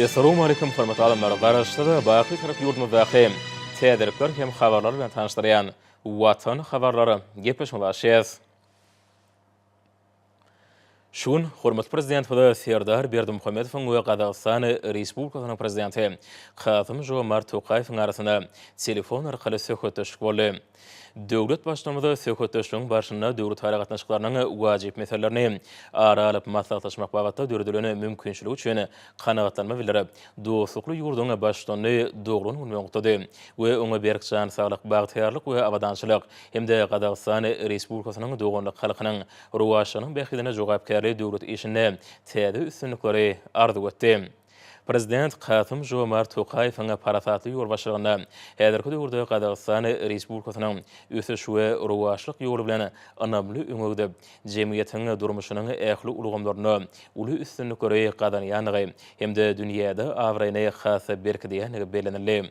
Essalamu aleýkum hormatly adamlar! Garaşsyz, Baky-Türk ýurdumyzdaky täzelikler hem habarlar bilen tanyşdyrýan Watan habarlary gepleşigine başlaýarys. Şu gün hormatly Prezidentimiz Serdar Berdimuhamedowyň we Gazagystan Respublikasynyň Prezidenti Kasym-Žomart Tokaýewiň arasynda telefon arkaly söhbetdeşlik boldy. Döwlet Baştutanymyz söhbetdeşligiň barşynda döwletara gatnaşyklarynyň wajyp meselelerini ara alyp maslahatlaşmak babatda döredilen mümkinçilik üçin Kanagatlanma bildirip, dostlukly ýurduň Baştutanyny doglan gün bilen gutlady we oňa berk jan saglyk, bagtyýarlyk we abadançylyk hem-de Gazagystan Respublikasynyň doganlyk halkynyň rowaçlygynyň bähbidine jogapkärli döwlet işinde täze üstünlikleri arzuw etdi. Prezident Kasym-Žomart Tokaýewiň parasatly ýolbaşçylygynda häzirki döwürde Gazagystan Respublikasynyň ösüş we rowaçlyk ýoly bilen ynamly öňe gidip, jemgyýetiň durmuşynyň ähli ulgamlarynda uly üstünlikleri gazanýandygy hem-de dünýäde abraýyny has-da berkidýändigi bellenildi.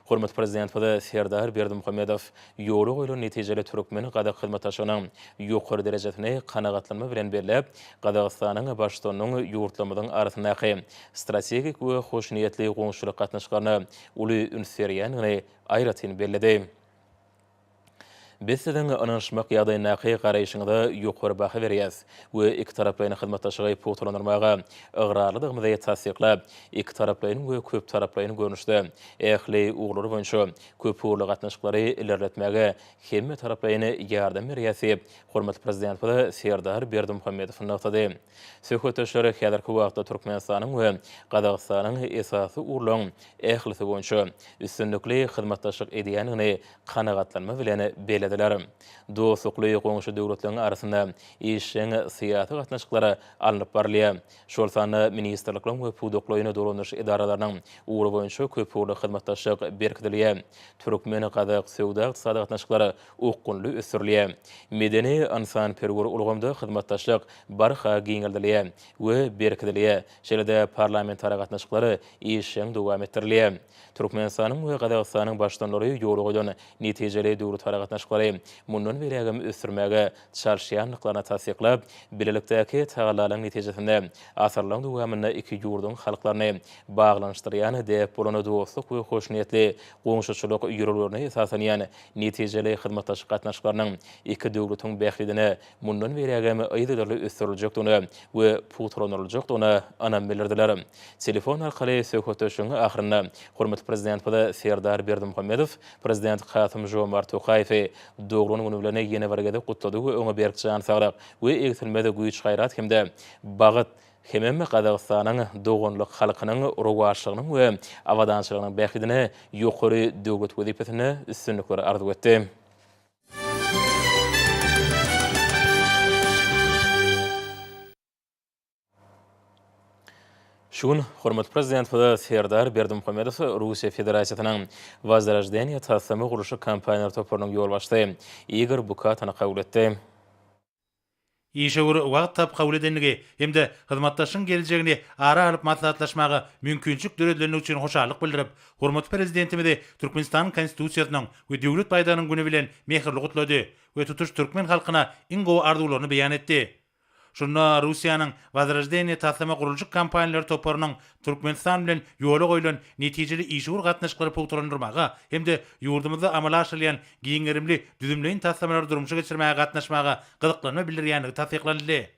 Hormatly Prezidentimiz Serdar Berdimuhamedow ýola goýlan netijeli türkmen-gazak hyzmatdaşlygynyň ýokary derejesini kanagatlanma bilen belläp, Gazagystanyň Baştutanynyň ýurtlarymyzyň arasyndaky strategik we hoşniýetli goňşulyk gatnaşyklaryna uly üns berýändigini aýratyn belledi. Biz siziň ynanyşmak ýagdaýyndaky garaýşyňyza ýokary baha berýäs we ikitaraplaýyn hyzmatdaşlygy pugtalandyrmaga ygrarlydygymyzy tassyklap, ikitaraplaýyn we köptaraplaýyn görnüşde ähli ugurlar boýunça köpugurly gatnaşyklary ilerletmäge hemmetaraplaýyn ýardam berýäs diýip, hormatly Prezidentimiz Serdar Berdimuhamedow nygtady. Söhbetdeşler häzirki wagtda Türkmenistanyň we Gazagystanyň esasy ugurlaryň ählisi boýunça üstünlikli hyzmatdaşlyk edýändigini kanagatlanma bilen bellediler. Dostlukly goňşy döwletleriň arasynda işjeň syýasy gatnaşyklar alnyp barylýar, şol sanda ministrlikleriň we pudaklaýyn dolandyryş edaralarynyň ugry boýunça köpugurly hyzmatdaşlyk berkidilýär, türkmen-gazak söwda-ykdysady gatnaşyklary okgunly ösdürilýär. Medeni-ynsanperwer ulgamda hyzmatdaşlyk barha giňeldilýär we berkidilýär, şeýle-de parlamentara gatnaşyklar işjeň dowam etdirilýär. Türkmenistanyň we Gazagystanyň Baştutanlary ýolögeden netijeli döwletara gatnaşyklary mundan beýlägem ösdürmäge çalyşýandyklaryny tassyklap, bilelikdäki tagallalaryň netijesinde asyrlaryň dowamynda iki ýurduň halklaryny baglanyşdyrýan däp bolan dostluk we hoşniýetli goňşuçylyk ýörelgelerine esaslanýan Netijeli hyzmatdaşlyk gatnaşyklarynyň iki döwletiň bähbidine mundan beýlägem yzygiderli ösdüriljekdigine we pugtalandyryljakdygyna ynam bildirdiler. Telefon arkaly söhbetdeşligiň ahyrynda hormatly Prezidentimiz Serdar Berdimuhamedow Prezident Kasym-Žomart Tokaýewi doglan güni bilen ýene bir gezek gutlady we oňa berk jan saglyk we egsilmez güýç-gaýrat hem-de bagt hemem Gazagystanyň doganlyk halkynyň rowaçlygynyň we abadançylygynyň bähbidine ýokary döwlet wezipesinde üstünlikler arzuw etdi. Şu gün hormatly Prezidentimiz Serdar Berdimuhamedow Russiýa Federasiýasynyň Wozroždeniýe taslama gurluşyk kompaniýalary toparynyň ýolbaşçysy Igor Bukatany kabul etdi. işewür wagt tap kabul edendigi hem-de hyzmatdaşlygyň geljegini ara alyp maslahatlaşmaga mümkinçilik döredilenligi üçin hoşallyk bildirip, hormatly Prezidentimizi Türkmenistanyň Konstitusiýasynyň we Döwlet baýdagynyň güni bilen mähirli gutlady we tutuş türkmen halkyna iň gowy arzuwlaryny beýan etdi. Şunda Russiýanyň Wozroždeniýe taslama gurluşyk kompaniýalary toparynyň Türkmenistan bilen ýola goýlan netijeli işewür gatnaşyklary pugtalandyrmaga hem-de ýurdumyzda amala aşyrylýan giň gerimli düzümleýin taslamalary durmuşa geçirmäge gatnaşmaga gyzyklanma bildirýändigi tassyklanyldy.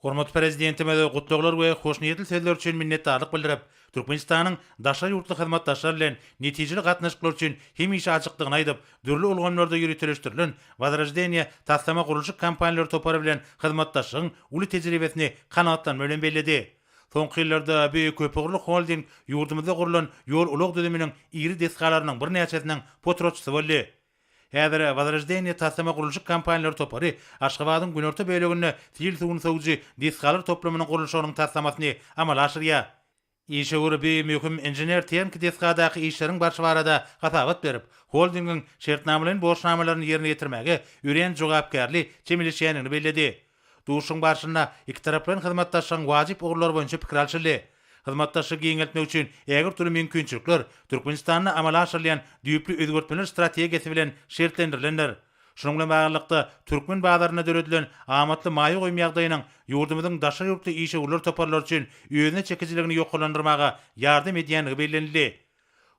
Hormatly Prezidentimize gutlaglar we hoşniýetli sözler üçin minnetdarlyk bildirip, Türkmenistanyň daşary ýurtly hyzmatdaşlar bilen netijeli gatnaşyklar üçin hemişe açykdygyny aýdyp, dürli ulgamlarda ýöriteleşdirilen Wozroždeniýe taslama-gurluşyk kompaniýalary topary bilen hyzmatdaşlygyň uly tejribesini kanagatlanma bilen belledi. Soňky ýyllarda bu köpugurly holding ýurdumyzda gurlan ýol-ulag düzüminiň iri desgalarynyň birnäçesiniň potratçysy boldy. Häzir Wozroždeniýe taslama gurluşyk kompaniýalary topary Aşgabadyň günorta böleginde sil suwuny sowujy desgalar toplumynyň gurluşygynyň taslamasyny amala aşyrýar. Işewür bu möhüm inžener-tehniki desgadaky işleriň barşy barada hasabat berip, holdingiň şertnamalaýyn borçnamalaryny ýerine ýetirmäge örän jogapkärli çemeleşýändigini belledi. Duşuşygyň barşynda ikitaraplaýyn hyzmatdaşlygyň wajyp ugurlary boýunça pikir alşyldy. Hyzmatdaşlygy giňeltmek üçin ägirt uly mümkinçilikler Türkmenistanda amala aşyrylýan düýpli özgertmeler strategiýasy bilen şertlendirilendir. Şunuň bilen baglylykda, türkmen bazarynda döredilen amatly maýa goýum ýagdaýynyň ýurdumyzyň daşary ýurtly işewürler toparlary üçin özüne çekijiligini ýokarlandyrmaga ýardam edýändigi bellenildi.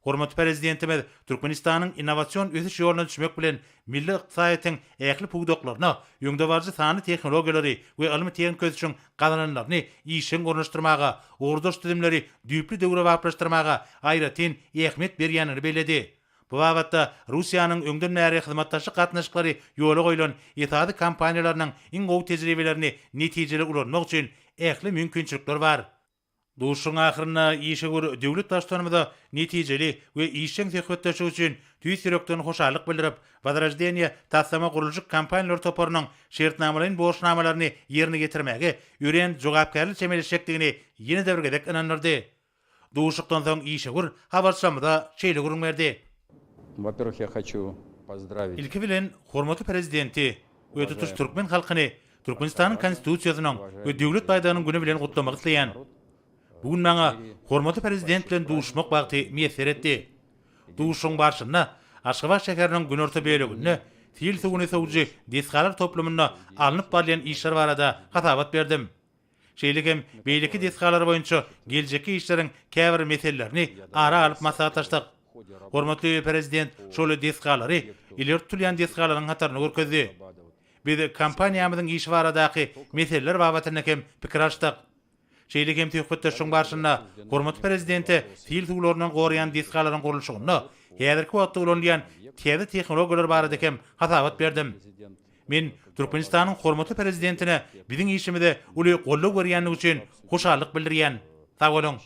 Hormatly Prezidentimiz Türkmenistanyň innowasion ösüş ýoluna düşmek bilen, milli ykdysadyýetiň ähli pudaklaryna öňdebaryjy sanly tehnologiýalary we ylmy-tehniki ösüşiň gazananlaryny işjeň ornaşdyrmaga, ugurdaş düzümleri düýpli döwrebaplaşdyrmaga aýratyn ähmiýet berýändigini belledi. Bu babatda Russiýanyň öňden bäri hyzmatdaşlyk gatnaşyklary ýola goýlan esasy kompaniýalarynyň iň gowy tejribelerini netijeli ulanmak üçin ähli mümkinçilikler bar. Duşuşygyň ahyrynda işewür döwlet Baştutanymyza netijeli we işjeň söhbetdeşlik üçin tüýs ýürekden hoşallyk bildirip, Wozroždeniýe taslama gurluşyk kompaniýalar toparynyň şertnamalaýyn borçnamalaryny ýerine ýetirmäge örän jogapkärli çemeleşjekdigini ýene-de bir gezek ynandyrdy. Duşuşykdan soň işewür habarçymyza şeýle gürrüň berdi. Ilki bilen, hormatly Prezidenti we tutuş türkmen halkyny Türkmenistanyň Konstitusiýasynyň we Döwlet baýdagynyň güni bilen gutlamak isleýän. Bu gün maňa hormatly Prezident bilen duşuşmak bagty miýesser etdi. Duşuşygyň barşynda Aşgabat şäheriniň günorta böleginde sil suwuny sowujy desgalar toplumynda alnyp barylýan işler barada hasabat berdim. şeýle hem beýleki desgalar boýunça geljekki işleriň käbir meselelerini ara alyp maslahatlaşdyk. Hormatly Prezident şol desgalary ileri tutulýan desgalaryň hatarynda görkezdi. Biz kompaniýamyzyň işi baradaky meseleler babatynda hem pikir alyşdyk. Şeýle hem söhbetdeşligiň barşynda hormatly Prezidente sil suwlaryndan goraýan desgalaryň gurluşygynda häzirki wagtda ulanylýan täze tehnologiýalar barada hem hasabat berdim. Men Türkmenistanyň hormatly Prezidentine biziň işimize uly goldaw berýändigi üçin hoşallyk bildirýän. Sag boluň!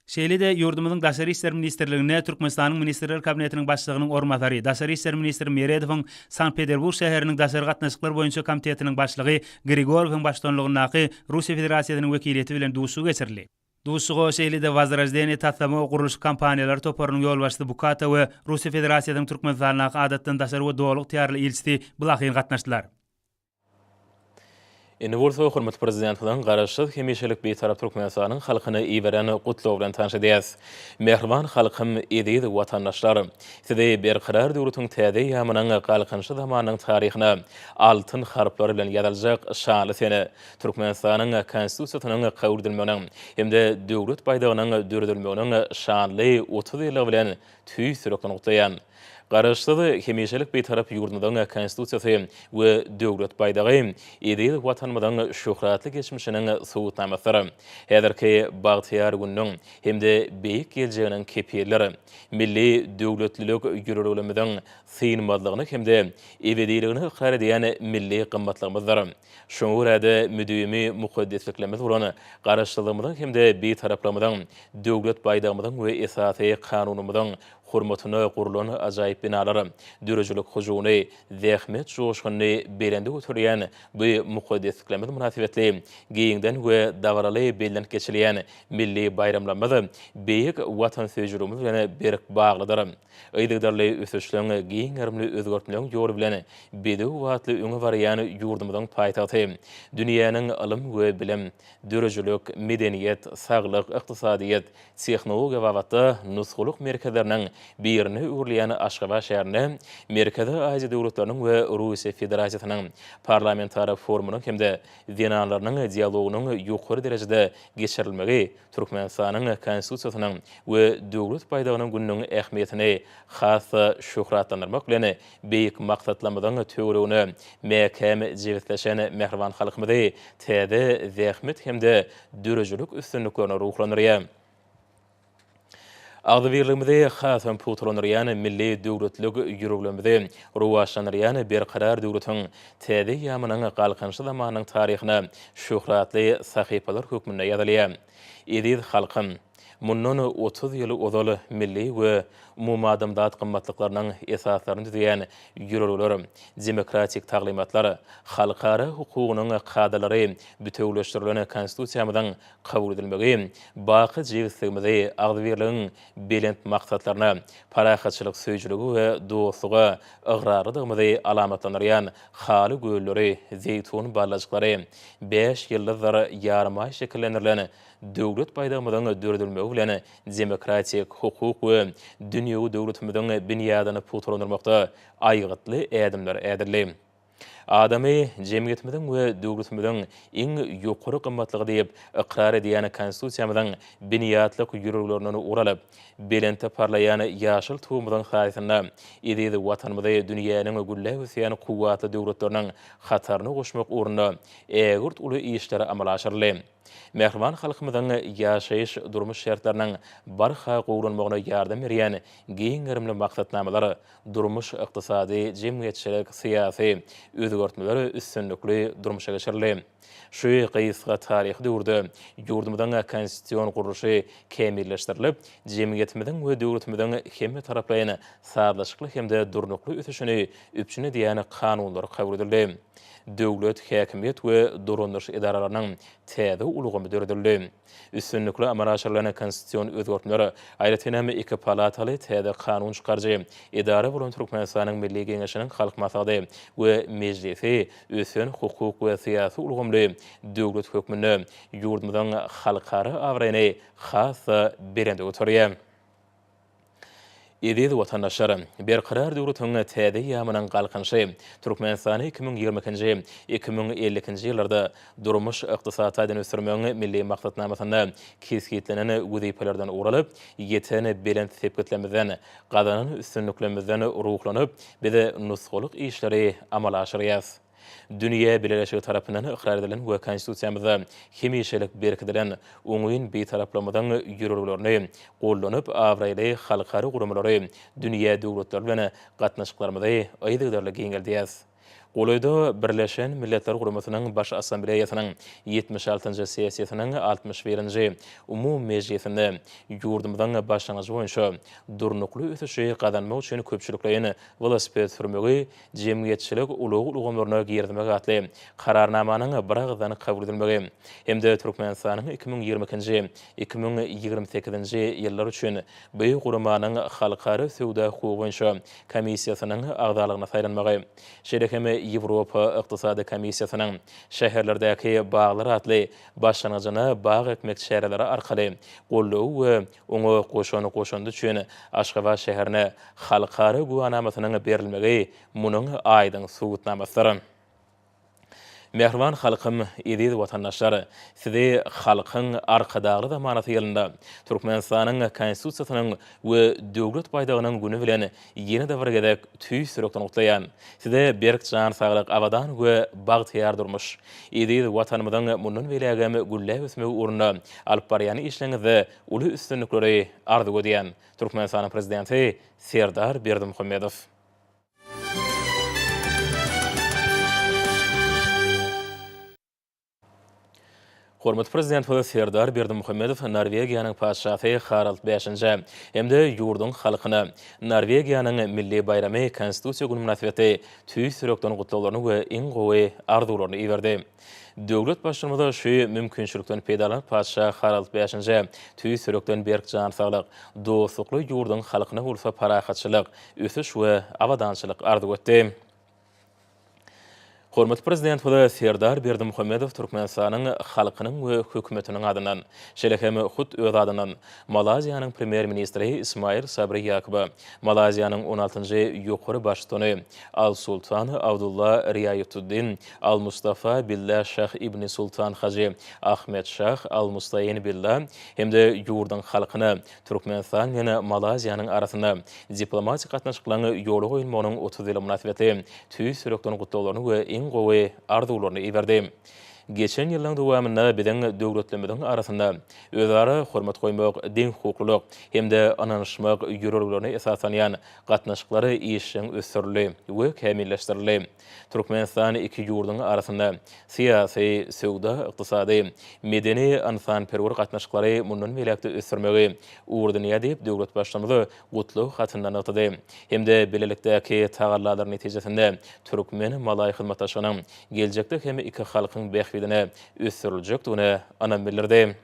Şeýle-de ýurdumyzyň Daşary işler ministrliginde Türkmenistanyň Ministrler Kabinetiniň Başlygynyň orunbasary, daşary işler ministri Meredowyň Sankt-Peterburg şäheriniň Daşary gatnaşyklar boýunça komitetiniň başlygy Grigorywyň baştutanlygyndaky Russiýa Federasiýasynyň wekiliýeti bilen duşuşygy geçirildi. Duşuşyga şeýle-de Wozroždeniýe taslama gurluşyk kompaniýalary toparynyň ýolbaşçysy Bukata we Russiýa Federasiýasynyň Türkmenistandaky Adatdan daşary we Doly ygtyýarly ilçisi Blahin gatnaşdylar. Indi bolsa hormatly Prezidentimiziň Garaşsyz, hemişelik Bitarap Türkmenistanyň halkyna iberen Gutlagy bilen tanyş edýäris. Mähriban halkym, eziz watandaşlar! Sizi Berkarar döwletiň täze eýýamynyň Galkynyşy zamanynyň taryhyna altyn harplar bilen ýazyljak şanly sene, Türkmenistanyň Konstitusiýasynyň kabul edilmeginiň hem-de Döwlet baýdagynyň döredilmeginiň şanly otuz ýyllygy bilen tüýs ýürekden gutlaýan. Garaşsyz, hemişelik Bitarap ýurdumyzyň Konstitusiýasy we Döwlet baýdagy eziz Watanymyzyň şöhratly geçmişiniň subutnamasydyr, häzirki bagtyýar gününiň hem-de beýik geljeginiň kepilidir. Milli döwletlilik ýörelgelerimiziň synmazlygyny hem-de ebediligini ykrar edýän milli gymmatlygymyzdyr. Şoňa görä-de, müdimi mukaddesliklerimiz bolan Garaşsyzlygymyzyň hem-de Bitaraplygymyzyň, Döwlet baýdagymyzyň we Esasy Kanunymyzyň hormatyna gurlan ajaýyp binalar, döredijilik hyjuwyny, zähmet joşgunyny belende göterýän bu mukaddesliklerimiz mynasybetli giňden we dabaraly bellenip geçilýän milli baýramlarymyz beýik watansöýüjiligimiz bilen berk baglydyr. Yzygiderli ösüşleň, giň gerimli özgertmeleň ýoly bilen bedew batly öňe barýan ýurdumyzyň paýtagty, dünýäniň ylym we bilim, döredijilik, medeniýet, saglyk, ykdysadyýet, tehnologiýa babatda nusgalyk merkezleriniň birine öwrülýän Aşgabat şäherinde Merkezi Aziýa döwletleriniň we Russiýa Federasiýasynyň Parlamentara forumynyň hem-de zenanlarynyň dialogynyň ýokary derejede geçirilmegi Türkmenistanyň Konstitusiýasynyň we Döwlet baýdagynyň gününiň ähmiýetini has-da şöhratlandyrmak bilen, beýik maksatlarymyzyň töweregine mäkäm jebisleşen mähriban halkymyzy täze zähmet hem-de döredijilik üstünliklerine ruhlandyrýar. Agzybirligimizi hasam pugtalandyrýan milli döwletlilik ýüreglerimizi rowaçlandyrýan Berkarar döwletiň Täze eýýamynyň Galkynyşy zamanynyň taryhyna şöhratly sahypalar hökmünde ýazylýar. Eziz halkym! Mundan otuz ýyl ozal milli we umumadamzat gymmatlyklarynyň esaslaryny düzýän ýörelgeler, demokratik taglymatlar, halkara hukugynyň kadalary bitewüleşdirilen Konstitusiýamyzyň kabul edilmegi baky jebisligimizi, agzybirligiň belent maksatlaryna, parahatçylyk söýüjiligi we dostluga ygrarlydygymyzy alamatlandyrýan haly gölleri, zeýtun ballajyklary, bäş ýyldyzdyr ýarymaý şekillendirilen Döwlet baýdagymyzyň döredilmegi bilen demokratik, hukuk we dünýewi döwletimiziň binýadyny pugtalandyrmakda aýgytly ädimler ädildi. Adamy jemgyýetimiziň we döwletimiziň iň ýokary gymmatlygy diýip ykrar edýän Konstitusiýamyzyň binýatlyk ýüreglerinden ulalyp, belentde parlaýan ýaşyl Tugumyzyň saýasynda eziz Watanymyzy dünýäniň gülläp ösýän kuwwatly döwletleriniň hataryna goşmak ugrunda ägirt uly işler amala aşyryldy. Mähriban halkymyzyň ýaşaýyş, durmuş şertleriniň barha gowulanmagyna ýardam berýän giň gerimli maksatnamalar, durmuş-ykdysady, jemgyýetçilik, syýasy, özgertmeler üstünlikli durmuşa geçirildi. Şu gysga taryhy döwürde ýurdumyzyň konstitusion gurluşy kämilleşdirilip, jemgyýetimiziň we döwletimiziň hemmetaraplaýyn sazlaşykly hem-de durnukly ösüşini üpjün edýän kanunlar kabul edildi. döwlet, häkimiýet we dolandyryş edaralarynyň täze ulgamy döredildi. Üstünlikli amala aşyrylan konstitusion özgertmeler, aýratyn hem iki palataly täze kanun çykaryjy edara bolan Türkmenistanyň Milli Geňeşiniň Halk Maslahaty we Mejlisi ösen hukuk we syýasy ulgamly döwlet hökmünde ýurdumyzyň halkara abraýyny has-da belende göterýär. Eziz watandaşlar! Berkarar döwletiň täze ýamynyň Galkynyşy Türkmenistany iki müň ýigrimi ikinji, iki müň elli ikinji ýyllarda durmuş-ykdysady taýdan ösdürmegiň milli maksatnamasynda kesgitlenen wezipelerden ugur alyp, ýeten belent sepgitlerimizden, gazanan üstünliklerimizden ruhlanyp, biz nusgalyk işleri amala aşyrýarys. Dünýä bileleşigi tarapyndan ykrar edilen we Konstitusiýamyzda hemişelik berkidilen oňyn Bitaraplygymyzyň ýörelgelerini gollanyp, abraýly halkara guramalary, dünýä döwletleri bilen gatnaşyklarymyzy yzygiderli giňeldýäs. Golaýda Birleşen Milletler Guramasynyň Baş Assambleýasynyň ýetmiş altynjy sessiýasynyň altmyş birinji umumy mejlisinde ýurdumyzyň başlangyjy boýunça durnukly ösüşi gazanmak üçin köpçülikleýin welosiped sürmegi jemgyýetçilik ulag ulgamlaryna girizmek atly Kararnamanyň biragyzdan kabul edilmegi hem-de Türkmenistanyň iki müň ýigrimi ikinji, iki müň ýigrimi sekizinji ýyllar üçin bu guramanyň Halkara söwda hukugy boýunça komissiýasynyň agzalygyna saýlanmagy, şeýle hem Ýewropa Ykdysady Komissiýasynyň Şäherlerdäki baglar atly başlangyjyna bag ekmek çäreleri arkaly goldawy we Oňa goşan goşandy üçin Aşgabat şäherine halkara güwänamasynyň berilmegi munuň aýdyň subutnamasydyr. Mähriban halkym, eziz watandaşlar! Sizi Halkyň Arkadagly zamanasy ýylynda, Türkmenistanyň Konstitusiýasynyň we Döwlet baýdagynyň güni bilen Ýene-de bir gezek tüýs ýürekden gutlaýan. Size berk jan saglyk, abadan we bagtyýar durmuş. Eziz Watanymyzyň mundan beýlägem gülläp ösmegi ugrunda alyp barýan işleriňizde uly üstünlikleri arzuw edýän. Türkmenistanyň Prezidenti Serdar Berdimuhamedow. Hormatly Prezidentimiz Serdar Berdimuhamedow Norwegiýanyň Patyşasy Harald bäşinjä hem-de ýurduň halkyna Norwegiýanyň milli baýramy Konstitusiýa güni mynasybetli tüýs ýürekden gutlaglaryny we iň gowy arzuwlaryny iberdi. Döwlet Baştutanymiz şu mümkinçilikden peýdalanyp, Patyşa Harald bäşinjä tüýs ýürekden berk jan saglyk, dostlukly ýurduň halkyna bolsa parahatçylyk, ösüş we abadançylyk arzuw etdi. Hormatly Prezidentimize Serdar Berdimuhamedow Türkmenistanyň halkynyň we Hökümetiniň adyndan, şeýle hem hut öz adyndan Malaýziýanyň Premýer-ministri Ismail Sabri Ýakuba, Malaýziýanyň on altynjy Ýokary Baştutany Al-Sultan Abdulla Riaýatuddin Al-Mustafa Billa Şah Ibni Sultan Hajy Ahmed Şah Al-Mustaýin Billa hem-de ýurduň halkyna Türkmenistan bilen Malaýziýanyň arasynda diplomatik gatnaşyklaryň ýola goýulmagynyň otuz ýyly mynasybetli tüýs ýürekden gutlaglaryny we iň gowy arzuwlaryny iberdi. Geçen ýyllaryň dowamynda biziň döwletlerimiziň arasynda özara hormat goýmak, deňhukuklylyk hem-de ynanyşmak ýörelgelerine esaslanýan gatnaşyklar işjeň ösdürildi we kämilleşdirildi. Türkmenistan iki ýurduň arasynda syýasy, söwda-ykdysady, medeni, ynsanperwer gatnaşyklary mundan beýläk-de ösdürmegi ugur edinýär diýip, döwlet Baştutanyz gutlag hatynda nygtady hem-de bilelikdäki tagallalar netijesinde türkmen-malaý hyzmatdaşlygynyň geljekde hem iki halkyň bähbidine ösdüriljekdigine ynam bildirdi.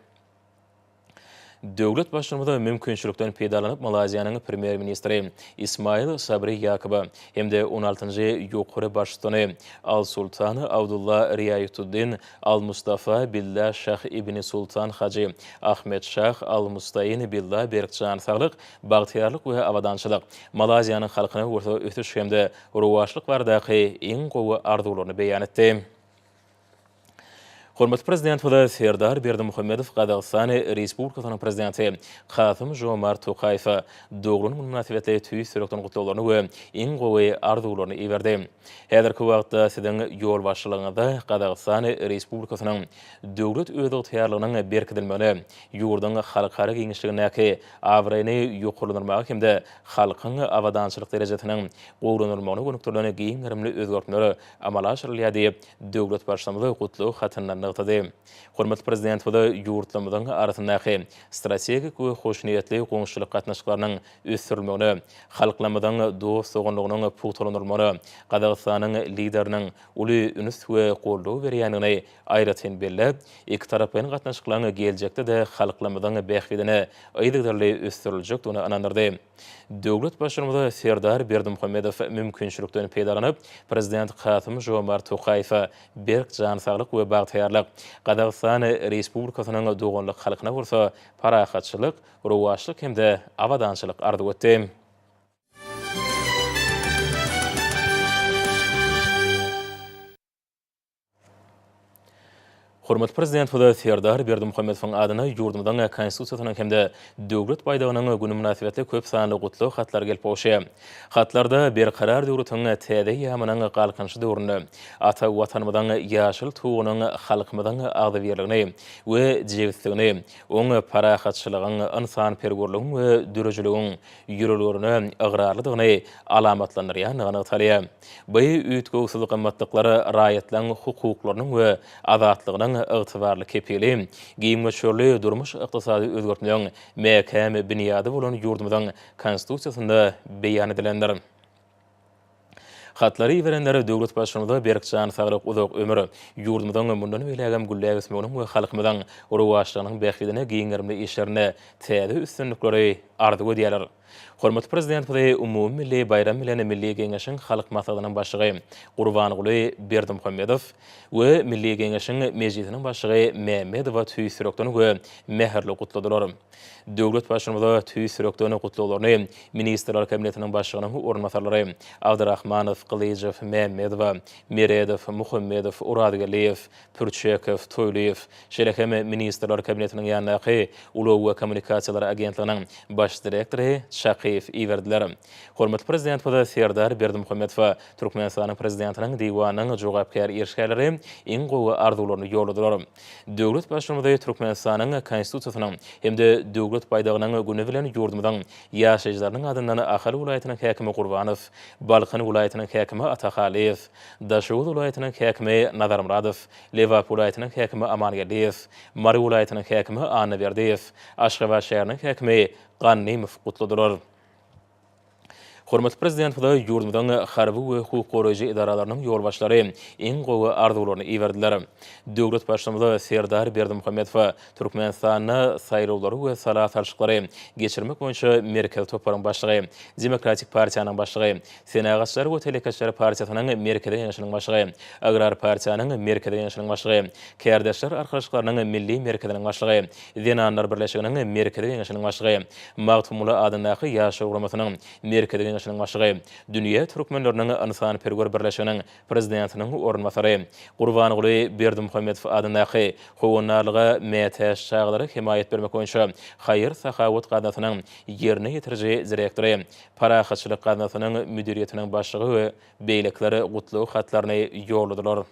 Döwlet Baştutanymize mümkinçilikden peýdalanyp Malaýziýanyň Premýer-ministri Ismail Sabri Ýakuba hem-de on altynjy ýokary baştutany Al-Sultan Abdullah Riaýatuddin Al-Mustafa Billa Şah Ibn Sultan Hajy Ahmed Şah Al-Mustain Billa berk jan saglyk, bagtyýarlyk we abadançylyk, Malaýziýanyň halkyna bolsa ösüş hem-de rowaçlyk baradaky iň gowy arzuwlaryny beýan etdi. Hormatly Prezidentimize Serdar Berdimuhamedow Gazagystan Respublikasynyň Prezidenti Kasym-Žomart Tokaýewe doglan gün mynasybetli tüýs ýürekden gutlaglaryny we iň gowy arzuwlaryny iberdi. Häzirki wagtda Siziň ýolbaşçylygyňyzda Gazagystan Respublikasynyň döwlet özygtyýarlygynyň berkidilmegine, ýurduň halkara giňişligindäki abraýyny ýokarlandyrmaga hem-de halkyň abadançylyk derejesiniň gowulandyrylmagyna gönükdirilen giň gerimli özgertmeler amala aşyrylýar diýip, döwlet Baştutanymy gutlag hatynda nygtady. Hormatly Prezidentimiz ýurtlarymyzyň arasyndaky strategik we hoşniýetli goňşuçylyk gatnaşyklarynyň ösdürilmegine, halklarymyzyň dost-doganlygynyň pugtalandyrylmagyna Gazagystanyň Lideriniň uly üns we goldaw berýändigini aýratyn belläp, ikitaraplaýyn gatnaşyklaryň geljekde-de halklarymyzyň bähbidine yzygiderli ösdüriljekdigine ynandyrdy. Döwlet Baştutanymy Serdar Berdimuhamedow mümkinçilikden peýdalanyp, Prezident Kasym-Žomart Tokaýewe berk jan saglyk we bagtyýarlyk, Gazagystan Respublikasynyň doganlyk halkyna bolsa parahatçylyk, rowaçlyk hem-de abadançylyk arzuw etdi. Hormatly Prezidentimize Serdar Berdimuhamedowyň adyna ýurdumyzyň Konstitusiýasynyň hem-de Döwlet baýdagynyň güni mynasybetli köp sanly gutlag hatlary gelip gowşy. Hatlarda Berkarar döwletiň täze eýýamynyň Galkynyşy döwründe ata Watanymyzyň ýaşyl Tugunyň halkymyzyň agzybirligini we jebisligini, oň parahatçylygyň, ynsanperwerligiň we döredijiligiň ýörelgelerine ygrarlydygyny alamatlandyrýandygy nygtalýar. Bu üýtgewsiz gymmatlyklar raýatlaryň hukuklarynyň we azatlygynyň ygtybarly kepili, giň möçberli durmuş-ykdysady özgertmegiň mäkäm binýady bolan ýurdumyzyň Konstitusiýasynda beýan edilendir. Hatlary iberenler döwlet Baştutanyma berk jan saglyk, uzak ömür, ýurdumyzyň mundan beýlägem gülläp ösmeginiň we halkymyzyň rowaçlygynyň bähbidine giň gerimli işlerinde täze üstünlikleri arzuw edýärler. Hormatly Prezidentimizi umumymilli baýram bilen Milli Geňeşiň Halk Maslahatynyň Başlygy Gurbanguly Berdimuhamedow we Milli Geňeşiň Mejlisiniň Başlygy Mämmedowa tüýs ýürekden we mähirli gutladylar. Döwlet Baştutanyma tüýs ýürekden gutlaglaryny Ministrler Kabinetiniň Başlygynyň orunbasarlary Abdyrahmanow, Gylyjow, Mämmedowa, Meredow, Muhammedow, Orazgeldiýew, Pürçekow, Toýlyýew, şeýle hem Ministrler Kabinetiniň ýanyndaky Ulag we kommunikasiýalar agentliginiň Baş direktory Çakyýew iberdiler. Hormatly Prezidentimiz Serdar Berdimuhamedowa Türkmenistanyň Prezidentiniň Diwanynyň jogapkär işgärleri iň gowy arzuwlaryny ýolladylar. Döwlet Baştutanymy Türkmenistanyň Konstitusiýasynyň hem-de Döwlet baýdagynyň güni bilen ýurdumyzyň ýaşaýjylarynyň adyndan Ahal welaýatynyň häkimi Gurbanow, Balkan welaýatynyň häkimi Atahalyýew, Daşoguz welaýatynyň häkimi Nazarmyradow, Lebap welaýatynyň häkimi Amangeldiýew, Mary welaýatynyň häkimi Annaberdiýew, Aşgabat şäheriniň häkimi Gannymow gutladylar. Hormatly Prezidentimize ýurdumyzyň harby we hukuk goraýjy edaralarynyň ýolbaşçylary iň gowy arzuwlaryny iberdiler. Döwlet Baştutanymy Serdar Berdimuhamedowa Türkmenistanda saýlawlary we sala salşyklary geçirmek boýunça Merkezi toparyň başlygy, Demokratik partiýanyň başlygy, Senagatçylar we telekeçiler partiýasynyň Merkezi Geňeşiniň başlygy, Agrar partiýanyň Merkezi Geňeşiniň başlygy, Kärdeşler arkalaşyklarynyň Milli merkeziniň başlygy, Zenanlar birleşiginiň Merkezi Geňeşiniň başlygy, Magtymguly adyndaky Ýaşlar guramasynyň Merkezi Geňeşiniň başlygy, Dünýä türkmenleriniň ynsanperwer birleşiginiň Prezidentiniň orunbasary Gurbanguly Berdimuhamedow adyndaky Howandarlyga mätäç çagalara hemaýat bermek boýunça haýyr-sahawat gaznasynyň ýerine ýetiriji direktory, Parahatçylyk gaznasynyň müdiriýetiniň başlygy we beýlekiler gutlag hatlaryny ýolladylar.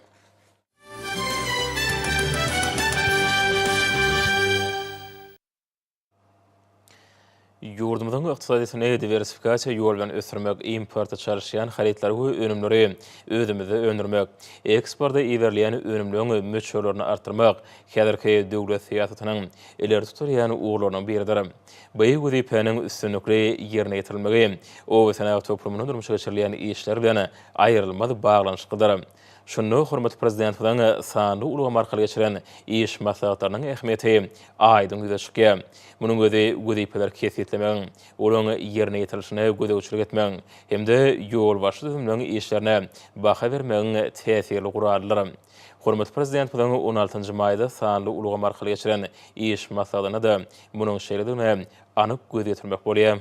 Ýurdumyzyň ykdysadyýetini diwersifikasiýa ýol bilen ösdürmek, importa çalyşýan harytlary we önümleri özümizde öndürmek, eksporta iberilýän önümleriň möçberlerini artdyrmak häzirki döwlet syýasatynyň ileri tutulýan ugurlarynyň biridir. Beýik wezipäniň üstünlikli ýerine ýetirilmegi obasenagat toplumynda durmuşa geçirilýän işler bilen aýrylmaz baglanyşyklydyr. Şunda hormatly Prezidentimiziň sanly ulgam arkaly geçiren iş maslahatlarynyň ähmiýeti aýdyň ýüze çykýar. Munuň özi wezipeleri kesgitlemegiň, olaryň ýerine ýetirilişine gözegçilik etmegiň hem-de ýolbaşçy düzümleriň işlerine baha bermegiň täsirli guralydyr. Hormatly Prezidentimiziň on altynjy maýda sanly ulgam arkaly geçiren iş maslahatynda-da munuň şeýledigine anyk göz ýetirmek bolýar.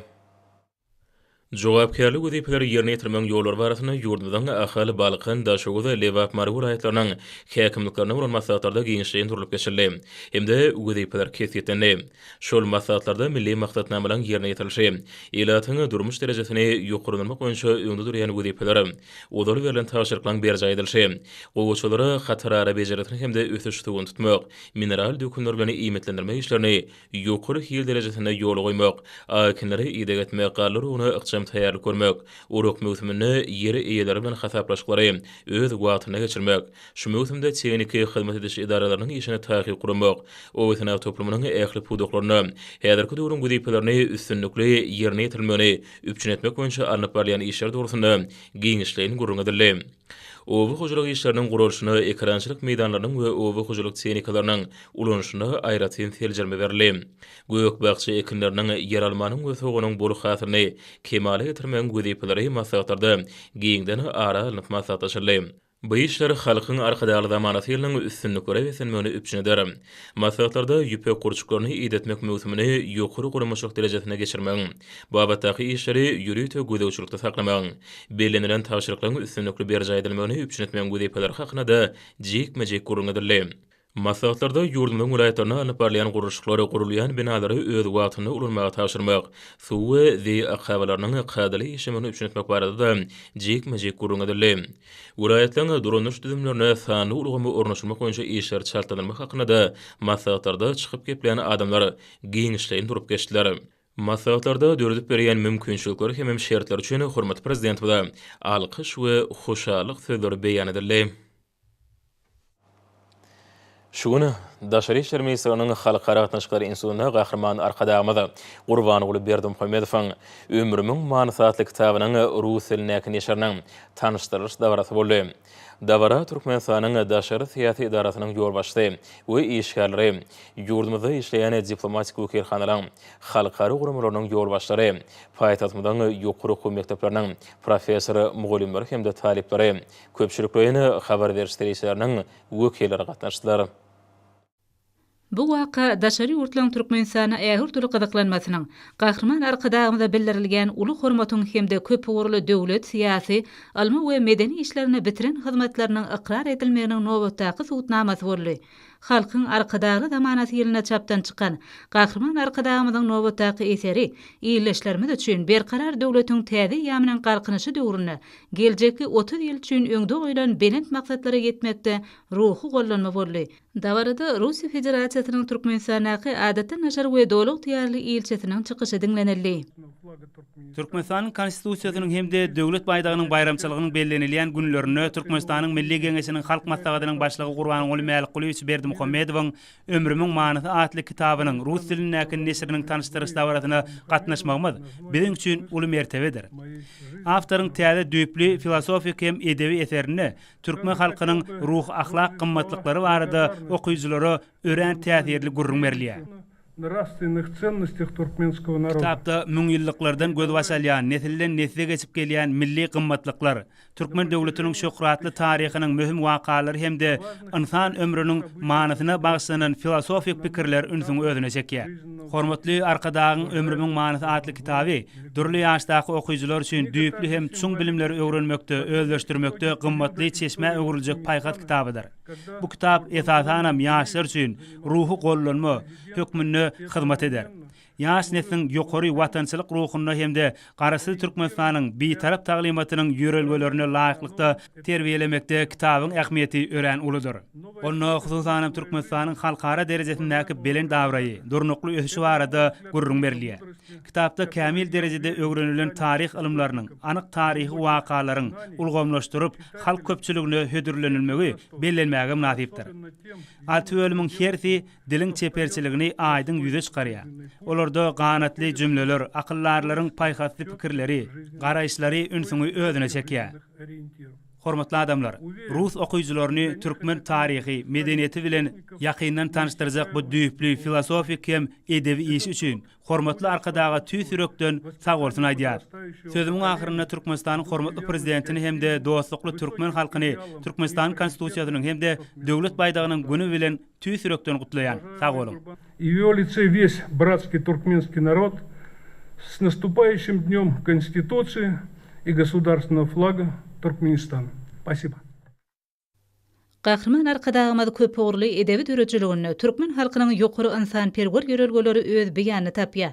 Jogapkärli wezipeleri ýerine ýetirmegiň ýollary barasynda ýurdumyzyň Ahal, Balkan, Daşoguz, Lebap, Mary welaýatlarynyň häkimliklerine bolan maslahatlarda giňişleýin durlup geçildi hem-de wezipeler kesgitlendi. Şol maslahatlarda milli maksatnamalaryň ýerine ýetirilişi, ilatyň durmuş derejesini ýokarlandyrmak boýunça öňde durýan wezipeler, ozal berlen tabşyryklaryň berjaý edilişi, gowaçalara hatarara bejergisini hem-de ösüş suwuny tutmak, mineral dökünler bilen iýmitlendirmek işlerini ýokary hil derejesinde ýola goýmak, akinlere ideg etmek, galla uruguna ykjam taýýarlyk görmek, urak möwsüminde ýer eýeleri bilen hasaplaşyklary öz wagtynda geçirmek, şu möwsümde tehniki hyzmat ediş edaralarynyň işini taýyk guramak, obasenagat toplumynyň ähli pudaklarynda häzirki döwrüň wezipelerini üstünlikli ýerine ýetirilmegini üpjün etmek boýunça alnyp barylýan işler dogrusynda giňişleýin gürrüň edildi. Oba hojalyk işleriniň guralyşyna, ekerançylyk meýdanlarynyň we oba hojalyk tehnikalarynyň ulanyşyna aýratyn seljerme berildi. Gök-bakja ekinleriniň, ýeralmanyň we soganyň bol hasylyny kemala getirmegiň wezipeleri maslahatlarda giňden ara alnyp maslahatlaşyldy. Bu işler Halkyň Arkadagly zamanasy ýylynyň üstünliklere beslenmegini üpjün eder. Maslahatlarda ýüpek gurçuklaryny idetmek möwsümini ýokary guramaçylyk derejesinde geçirmegiň, babatdaky işleri ýörite gözegçilikde saklamagyň, bellenilen tabşyryklaryň üstünlikli berjaý edilmegini üpjün etmegiň wezipeleri hakynda-da jikme-jik gürrüň edildi. Maslahatlarda ýurdumyzyň welaýatlarynda alnyp barylýan gurluşyklar, gurulýan binalary öz wagtynda ulanmaga tabşyrmak, suw we zeý akabalarynyň kadaly işlemegini üpjün etmek barada-da jikme-jik gürrüň edildi. Welaýatlaryň dolanyş düzümlerine sanly ulgamy ornaşdyrmak boýunça işleri çaltlandyrmak hakynda maslahatlarda çykyp geplän adamlar giňişleýin durup geçdiler. Maslahatlarda döredip berýän mümkinçilikler hemem şertler üçin hormatly Prezidentimize alkyş we hoşallyk sözleri beýan edildi. Şu gün Daşary işler ministrliginiň Halkara gatnaşyklary institutynda Gahryman Arkadagymyz Gurbanguly Berdimuhamedowyň Ömrümiň manysy atly kitabynyň rus dilindäki neşiriniň tanyşdyrylyş dabarasy boldy. Dabara Türkmenistanyň Daşary syýasy edarasynyň ýolbaşçysy we işgärleri, ýurdumyzda işleýän diplomatik wekilhanalaryň, halkara guramalarynyň ýolbaşçylary, paýtagtymyzyň ýokary okuw mekdepleriniň professor-mugallymlary hem-de talyplary, Köpçülikleýine habar beriş serişdeleriniň wekilleri gatnaşdylar. Bu waka daşary ýurtlaryň Türkmenistana ähurduly gyzyklanmasynyň, Gahryman Arkadagymyza bildirilýän uly hormatyň hem-de köpugurly döwlet, syýasy, ylmy we medeni işlerinde bitiren hyzmatlarynyň ykrar edilmeginiň nobatdaky subutnamasy boldy. Halkyň Arkadagly zamanasy ýylynda çapdan çykan Gahryman Arkadagymyzyň nobatdaky eseri ildeşlerimiz üçin Berkarar döwletiň täze eýýamynyň Galkynyşy döwründe geljekki otuz ýyl üçin öňde goýlan belent maksatlara ýetmekde ruhy gollanma boldy. Dabarada Russiýa Federasiýasynyň Türkmenistandaky Adatdan daşary we Doly ygtyýarly ilçisiniň çykyşy diňlenildi. Türkmenistanyň Konstitusiýasynyň hem-de Döwlet baýdagynyň baýramçylygynyň bellenilýän günlerinde Türkmenistanyň Milli Geňeşiniň Halk Maslahatynyň Başlygy Gurbanguly Mälikgulyýewiç Berdimuhamedowyň Ömrümiň manysy atly kitabynyň rus dilindäki neşiriniň tanyşdyryş dabarasyna gatnaşmagymyz biziň üçin uly mertebedir. Awtoryň täze düýpli filosofik hem edebi eserinde türkmen halkynyň ruhy-ahlak gymmatlyklary barada okyjylara örän täsirli gürrüň berilýär. Kitapda müňýyllyklardan gözbaş alýan, nesilden-nesle geçip gelýän milli gymmatlyklar, türkmen döwletiniň şöhratly taryhynyň möhüm wakalary hem-de ynsan ömrüniň manysyna bagyşlanan filosofik pikirler ünsüňi özüne çekýär. Hormatly Arkadagyň Ömrümiň manysy atly kitaby dürli ýaşdaky okyjylar üçin düýpli hem çuň bilimleri öwrenmekde, özleşdirmekde gymmatly çeşmä öwrüljek paýhas kitabydyr. Bu kitap esasanam ýaşlar üçin ruhy gollanma hökmünde hyzmat eder. Ýaş nesliň ýokary watançylyk ruhunda hem-de Garaşsyz Türkmenistanyň Bitarap taglymatynyň ýörelgelerine laýyklykda terbiýelemekde kitabyň ähmiýeti örän uludyr. Onda, hususanam, Türkmenistanyň halkara derejesindäki belent abraýy, durnukly ösüşi barada gürrüň berilýär. Kitapda kämil derejede öwrenilen taryh ylymlarynyň, anyk taryhy wakalaryň ulgamlaşdyryp, halk köpçüligine hödürlenilmegi bellenmäge mynasypdyr. Alty bölümiň hersi diliň çeperçiligini aýdyň ýüze çykarýar. Olarda ganatly jümleler, akyldarlaryň paýhasly pikirleri, garaýyşlary ünsüňi özüne çekýär. Hormatly adamlar, rus okyjylaryny türkmen taryhy, medeniýeti bilen ýakyndan tanyşdyrjak bu düýpli filosofik hem edebi iş üçin Hormatly Arkadaga tüýs ýürekden sag bolsun aýdýar. Sözümiň ahyrynda Türkmenistanyň hormatly Prezidentini hem-de dostlukly türkmen halkyny Türkmenistanyň Konstitusiýasynyň hem-de Döwlet baýdagynyň güni bilen tüýs ýürekden gutlaýan. Sag boluň! I w ýo lice wes bratskiý turkmenskiý narod s nastupaýişim dňom Konstituciýi i gosudarstvennogo flaga Turkmenistan! Spasiba! Gahryman Arkadagymyz köpugurly edebi döredijiliginde türkmen halkynyň ýokary ynsanperwer ýörelgeleri öz beýanyny tapýar.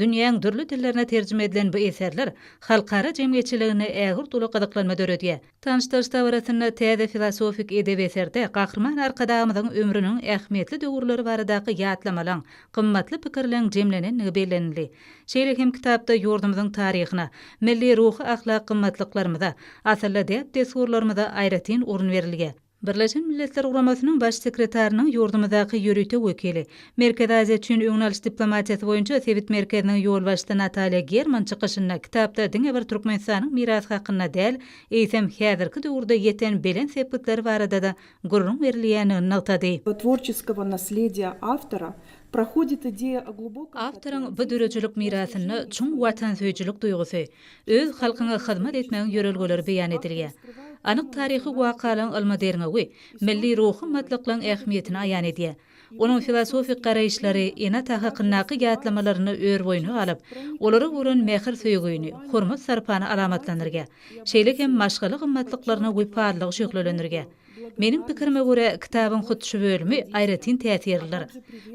Dünýäň dürli dillerine terjime edilen bu eserler halkara jemgyýetçiliginde ägirt uly gyzyklanma döredýär. Tanyşdyryş dabarasynda täze filosofik edebi eserde Gahryman Arkadagymyzyň ömrüniň ähmiýetli döwürleri baradaky ýatlamalaň, gymmatly pikirleň jemlenendigi bellenildi. Şeýle hem kitapda ýurdumyzyň taryhyna, milli ruhy-ahlak gymmatlyklarymyza, asylly däp-dessurlarymyza aýratyn orun berilýär. Birleşen Milletler Guramasynyň Baş sekretarynyň ýurdumyzdaky ýörite wekili, Merkezi Aziýa üçin öňüni alyş diplomatiýasy boýunça sebit merkeziniň ýolbaşçysy Natalýa German çykyşynda kitapda diňe bir Türkmenistanyň mirasy hakynda däl, eýsem, häzirki döwürde ýeten belent sepgitleri barada-da gürrüň berilýändigini nygtady. tworçeskogo naslediýa awtora prohodit ideýa o glubokym Awtoryň bu döredijilik mirasynda çuň watansöýüjilik duýgusy, öz halkyňa hyzmat etmegiň ýörelgeleri beýan edilýär. Anyk taryhy wakalaryň ylmy derňewi milli ruhy batlyklygyň ähmiýetini aýan edýär. Onuň filosofik garaýyşlary, ene-ata hakyndaky ýatlamalaryny örboýuna alyp, olara bolan mähir-söýgini, hormat-sarpany alamatlandyrýar. Şeýle hem maşgala gymmatlyklaryna wepalylygy şöhlelendirýär. Meniň pikirime görä, kitabyň hut şu bölümi aýratyn täsirlidir.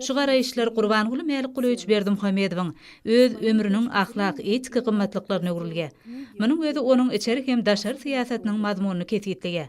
Şu garaýyşlar Gurbanguly Mälikgulyýewiç Berdimuhamedowyň öz ömrüniň ahlak-etiki gymmatlyklaryna öwrülýär. Munuň özi onuň içeri hem daşary syýasatynyň mazmunyny kesgitleýär.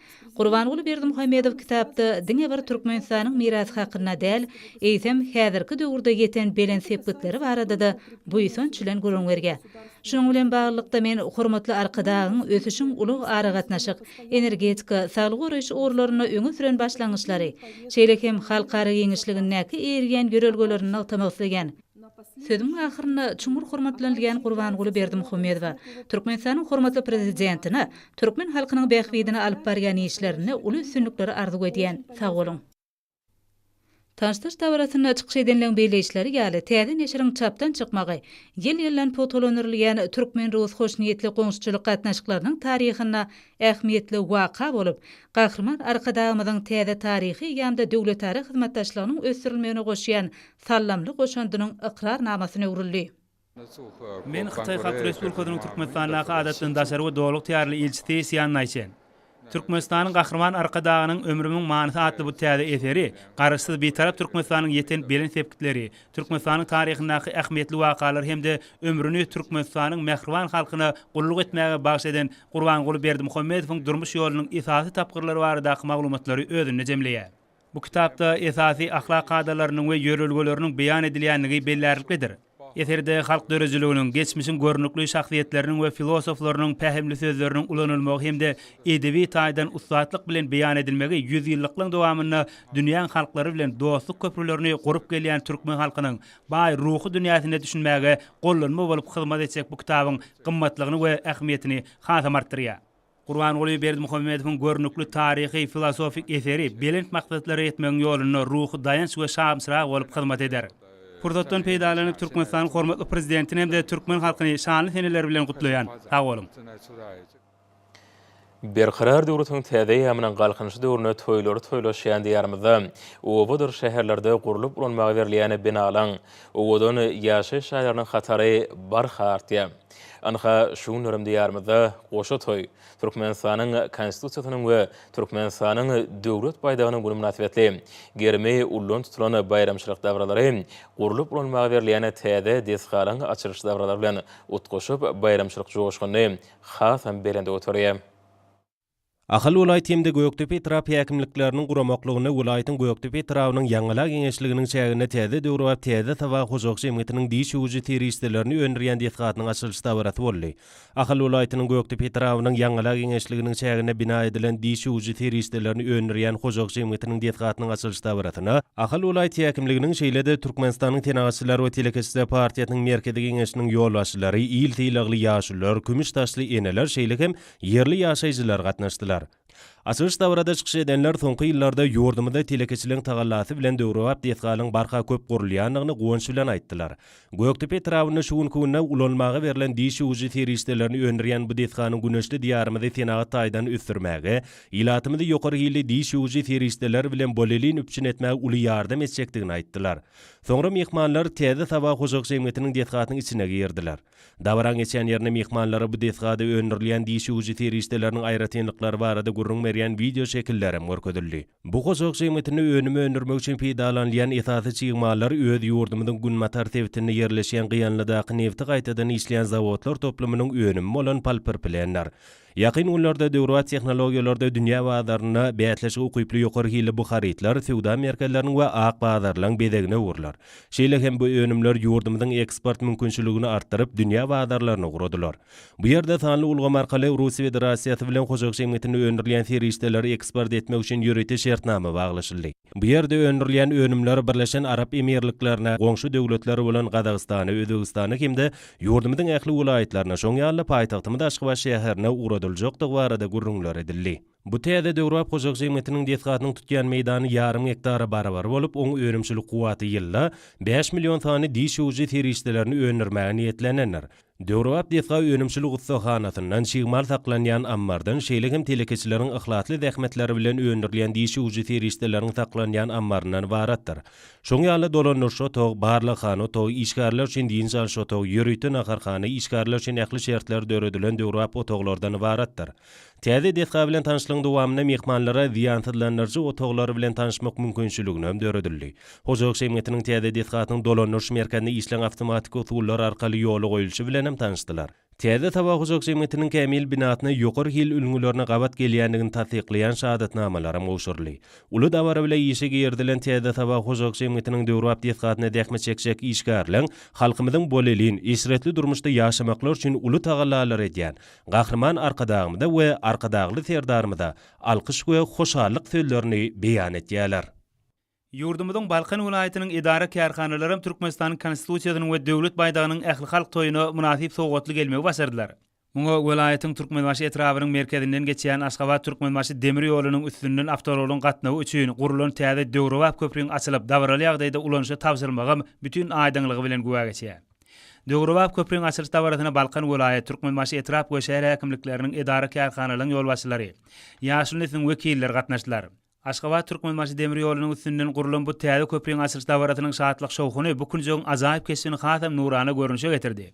Gurbanguly Berdimuhamedow kitapda diňe bir Türkmenistanyň mirasy hakynda däl, eýsem, häzirki döwürde ýeten belent sepgitleri barada-da buýsanç bilen gürrüň berýär. Şunuň bilen baglylykda, men hormatly Arkadagyň ösüşiň ulag, aragatnaşyk, energetika, saglygy goraýyş ugurlarynda öňe süren başlangyçlary, şeýle hem halkara giňişligindäki eýerýän ýörelgelerini nygtamak isleýän. Sözümiň ahyrynda çuňňur hormatlanylýan Gurbanguly Berdimuhamedowa, Türkmenistanyň hormatly Prezidentine türkmen halkynyň bähbidine alyp barýan işlerinde uly üstünlikleri arzuw edýän. Sag boluň! Tanşdyryş dabarasynda çykyş edenleň belleýişleri ýaly, täze neşiriň çapdan çykmagy ýyl-ýyldan pugtalandyrylýan türkmen-rus hoşniýetli goňşuçylyk gatnaşyklarynyň taryhynda ähmiýetli waka bolup, Gahryman Arkadagymyzyň täze taryhy eýýamda döwletara hyzmatdaşlygynyň ösdürilmegine goşýan Sallamly goşandynyň ykrarnamasyna öwrüldi. Men Hytaý Halk Respublikasynyň Türkmenistandaky Adatdan daşary we Doluq Tearly Ilçisi Sýan Naýçen. Türkmenistanyň Gahryman Arkadagynyň Ömrümiň manysy atly bu täze eseri Garaşsyz Bitarap Türkmenistanyň ýeten belent sepgitleri, Türkmenistanyň taryhyndaky ähmiýetli wakalary hem-de ömrüni Türkmenistanyň mähriban halkyna gulluk etmäge bagyş eden Gurbanguly Berdimuhamedowyň durmuş ýolunyň esasy tapgyrlary baradaky maglumatlary özünde jemleýär. Bu kitapda esasy ahlak kadalarynyň we ýörelgeleriniň beýan edilýändigi bellärliklidir. Eserde halk döredijiliginiň, geçmişiň görnükli şahsyýetleriniň we filosoflarynyň pähimli sözleriniň ulanylmagy hem-de edebi taýdan ussatlyk bilen beýan edilmegi ýüzýyllyklygyň dowamynda dünýäň halklary bilen dostluk köprülerini gurup gelýän türkmen halkynyň baý ruhy dünýäsine düşünmäge gollanma bolup hyzmat etjek bu kitabyň gymmatlygyny we ähmiýetini hasam artdyrýar. Gurbanguly Berdimuhamedowyň görnükli taryhy, filosofik eseri belent maksatlara ýetmegiň ýolunda ruhy daýanç we şamçyrag bolup hyzmat eder. Pursatdan peýdalanyp, Türkmenistanyň hormatly Prezidentini hem-de türkmen halkyny şanly seneler bilen gutlaýan. Sag boluň! Berkarar döwletiň täze eýýamynyň Galkynyşy döwründe toýlary toýlaşýan Diýarymyzda obadyr şäherlerde gurlup ulanmaga berilýän binalaryň, owadan ýaşaýyş jaýlarynyň hatary barha artýar. Ynha, şu günlerem Diýarymyzda goşa toý, Türkmenistanyň Konstitusiýasynyň we Türkmenistanyň Döwlet baýdagynyň güni mynasybetli gerimi ullan tutulan baýramçylyk dabaralary gurlup ulanmaga berilýän täze desgalaryň açylyş dabaralary bilen utgaşyp, baýramçylyk joşgunyny hasam belende göterýär. Ahal welaýat hem-de Gökdepe etrap häkimlikleriniň guramaklygyna welaýatyň Gökdepe etrabynyň Ýaňyla geňeşliginiň çäginde täze döwrebap Täze Saba hojalyk jemgyýetiniň diş öwüji serişdelerini öndürýän desgasynyň açylyş dabarasy boldy. Ahal welaýatynyň Gökdepe etrabynyň Ýaňyla geňeşliginiň çäginde bina edilen diş öwüji serişdelerini öndürýän hojalyk jemgyýetiniň desgasynyň açylyş dabarasyna Ahal welaýat häkimliginiň şeýle-de Türkmenistanyň Senagatçylar we telekeçiler partiýasynyň Merkezi Geňeşiniň ýolbaşçylary, il sylagly ýaşulular, kümüş saçly eneler şeýle hem ýerli ýaşaýjylar gatnaşdylar. Açylyş dabarada çykyş edenler soňky ýyllarda ýurdumyzda telekeçiligiň tagallasy bilen döwrebap desgalaryň barha köp gurulýandygyny guwanç bilen aýtdylar. Gökdepe etrabynda şu günki günde ulanmaga berlen diş öwüji serişdelerini öndürýän bu desganyň güneşli Diýarymyzy senagat taýdan ösdürmäge, ilatymyzy ýokary hilli diş öwüji serişdeler bilen bolelin üpjün etmäge uly ýardam etjekdigini aýtdylar. Soňra myhmanlar Täze Saba hojalyk jemgyýetiniň desgasynyň içine girdiler. Dabaraň geçýän ýerinde myhmanlara bu desgada öndürilýän diş öwüji serişdeleriniň aýratynlyklary barada gürrüň berýän wideoşekiller hem görkezildi. Bu hojalyk jemgyýetinde önüm öndürmek üçin peýdalanylýan esasy çig mallar öz ýurdumyzyň günbatar sebitinde ýerleşýän Gyýanlydaky nebti gaýtadan işleýän zawodlar toplumynyň önümi bolan polpirplendir. Ýakyn günlerde döwrebap tehnologiýalarda dünýä bazarynda bäsleşige ukyply ýokary hilli bu harytlar söwda merkezleriniň we ak bazarlaryň bezegine öwrüler. Şeýle hem bu önümler ýurdumyzyň eksport mümkinçiligini artdyryp, dünýä bazarlaryny ugradylar. Bu ýerde sanly ulgam arkaly Russiýa Federasiýasy bilen hojalyk jemgyýetinde öndürilýän serişdeleri eksport etmek üçin ýörite şertnama baglaşyldy. Bu ýerde öndürilýän önümler Birleşen Arap Emirliklerine, goňşy döwletler bolan Gazagystana, Özbegistana hem-de ýurdumyzyň ähli welaýatlaryna, şoň ýaly-da paýtagtymyz Aşgabat şäherine ugradyljakdygy barada gürrüňler edildi. Bu täze döwrebap hojalyk jemgyýetiniň desgasynyň tutýan meýdany ýarym gektara barabar bolup, oň önümçilik kuwwaty ýylda bäş million sany diş öwüji serişdelerini öndürmäge niýetlenendir. Döwrebap desga önümçilik ussahanasyndan, çig mal saklanýan ammardan, şeýle hem telekeçileriň yhlasly zähmetleri bilen öndürilýän diş ýuwujy serişdeleriň saklanýan ammaryndan ybaratdyr. Şoň ýaly dolandyryş otagy, barlaghana otagy, işgärler üçin dynç alyş otagy, ýörite naharhana, işgärler üçin ähli şertler döredilen döwrebap otaglardan ybaratdyr. Täze desga bilen tanyşlygyň dowamynda myhmanlara zyýansyzlandyryjy otaglar bilen tanyşmak mümkinçiligini hem döredildi. Hojalyk jemgyýetiniň täze desgasynyň dolandyryş merkezinde işleýän awtomatiki usullar arkaly ýola goýulşy bilen hem tanyşdylar. Täze Saba hojalyk jemgyýetiniň kämil binasyna ýokary hil ülňülerine gabat gelýändigini tassyklaýan şahadatnamalar hem gowşuryldy. Uly dabara bile işe girizilen Täze Saba hojalyk jemgyýetiniň döwrebap desgasynda zähmet çekjek işgärleň halkymyzyň bolelin, eşretli durmuşda ýaşamaklary üçin uly tagallalary edýän, Gahryman Arkadagymyza we Arkadagly Serdarymyza alkyş we hoşallyk sözlerini beýan etýärler. Ýurdumyzyň Balkan welaýatynyň edara-kärhanalary hem Türkmenistanyň Konstitusiýasynyň we Döwlet baýdagynyň ählihalk toýuna mynasyp sowgatly gelmegi başardylar. Muňa welaýatyň Türkmenbaşy etrabynyň merkezinden geçýän Aşgabat-Türkmenbaşy demir ýolunyň üstünden awtoulagyň gatnawy üçin gurlan täze döwrebap köprüň açylyp, dabaraly ýagdaýda ulanyşa tabşyrylmagam bütin aýdyňlygy bilen güwä geçýär. Döwrebap köpriň açylyş dabarasyna Balkan welaýat, Türkmenbaşy etrap we şäher häkimlikleriniň edara-kärhanalaryň ýolbaşçylary, ýaşyl nesliň wekilleri gatnaşdylar. Aşgabat, Türkmenbaşy demir ýolunyň üstünden gurlan bu täze köpriň açylyş dabarasynyň şatlyk-şowhuny bu künjegiň ajaýyp keşbini hasam nurana görnüşe getirdi.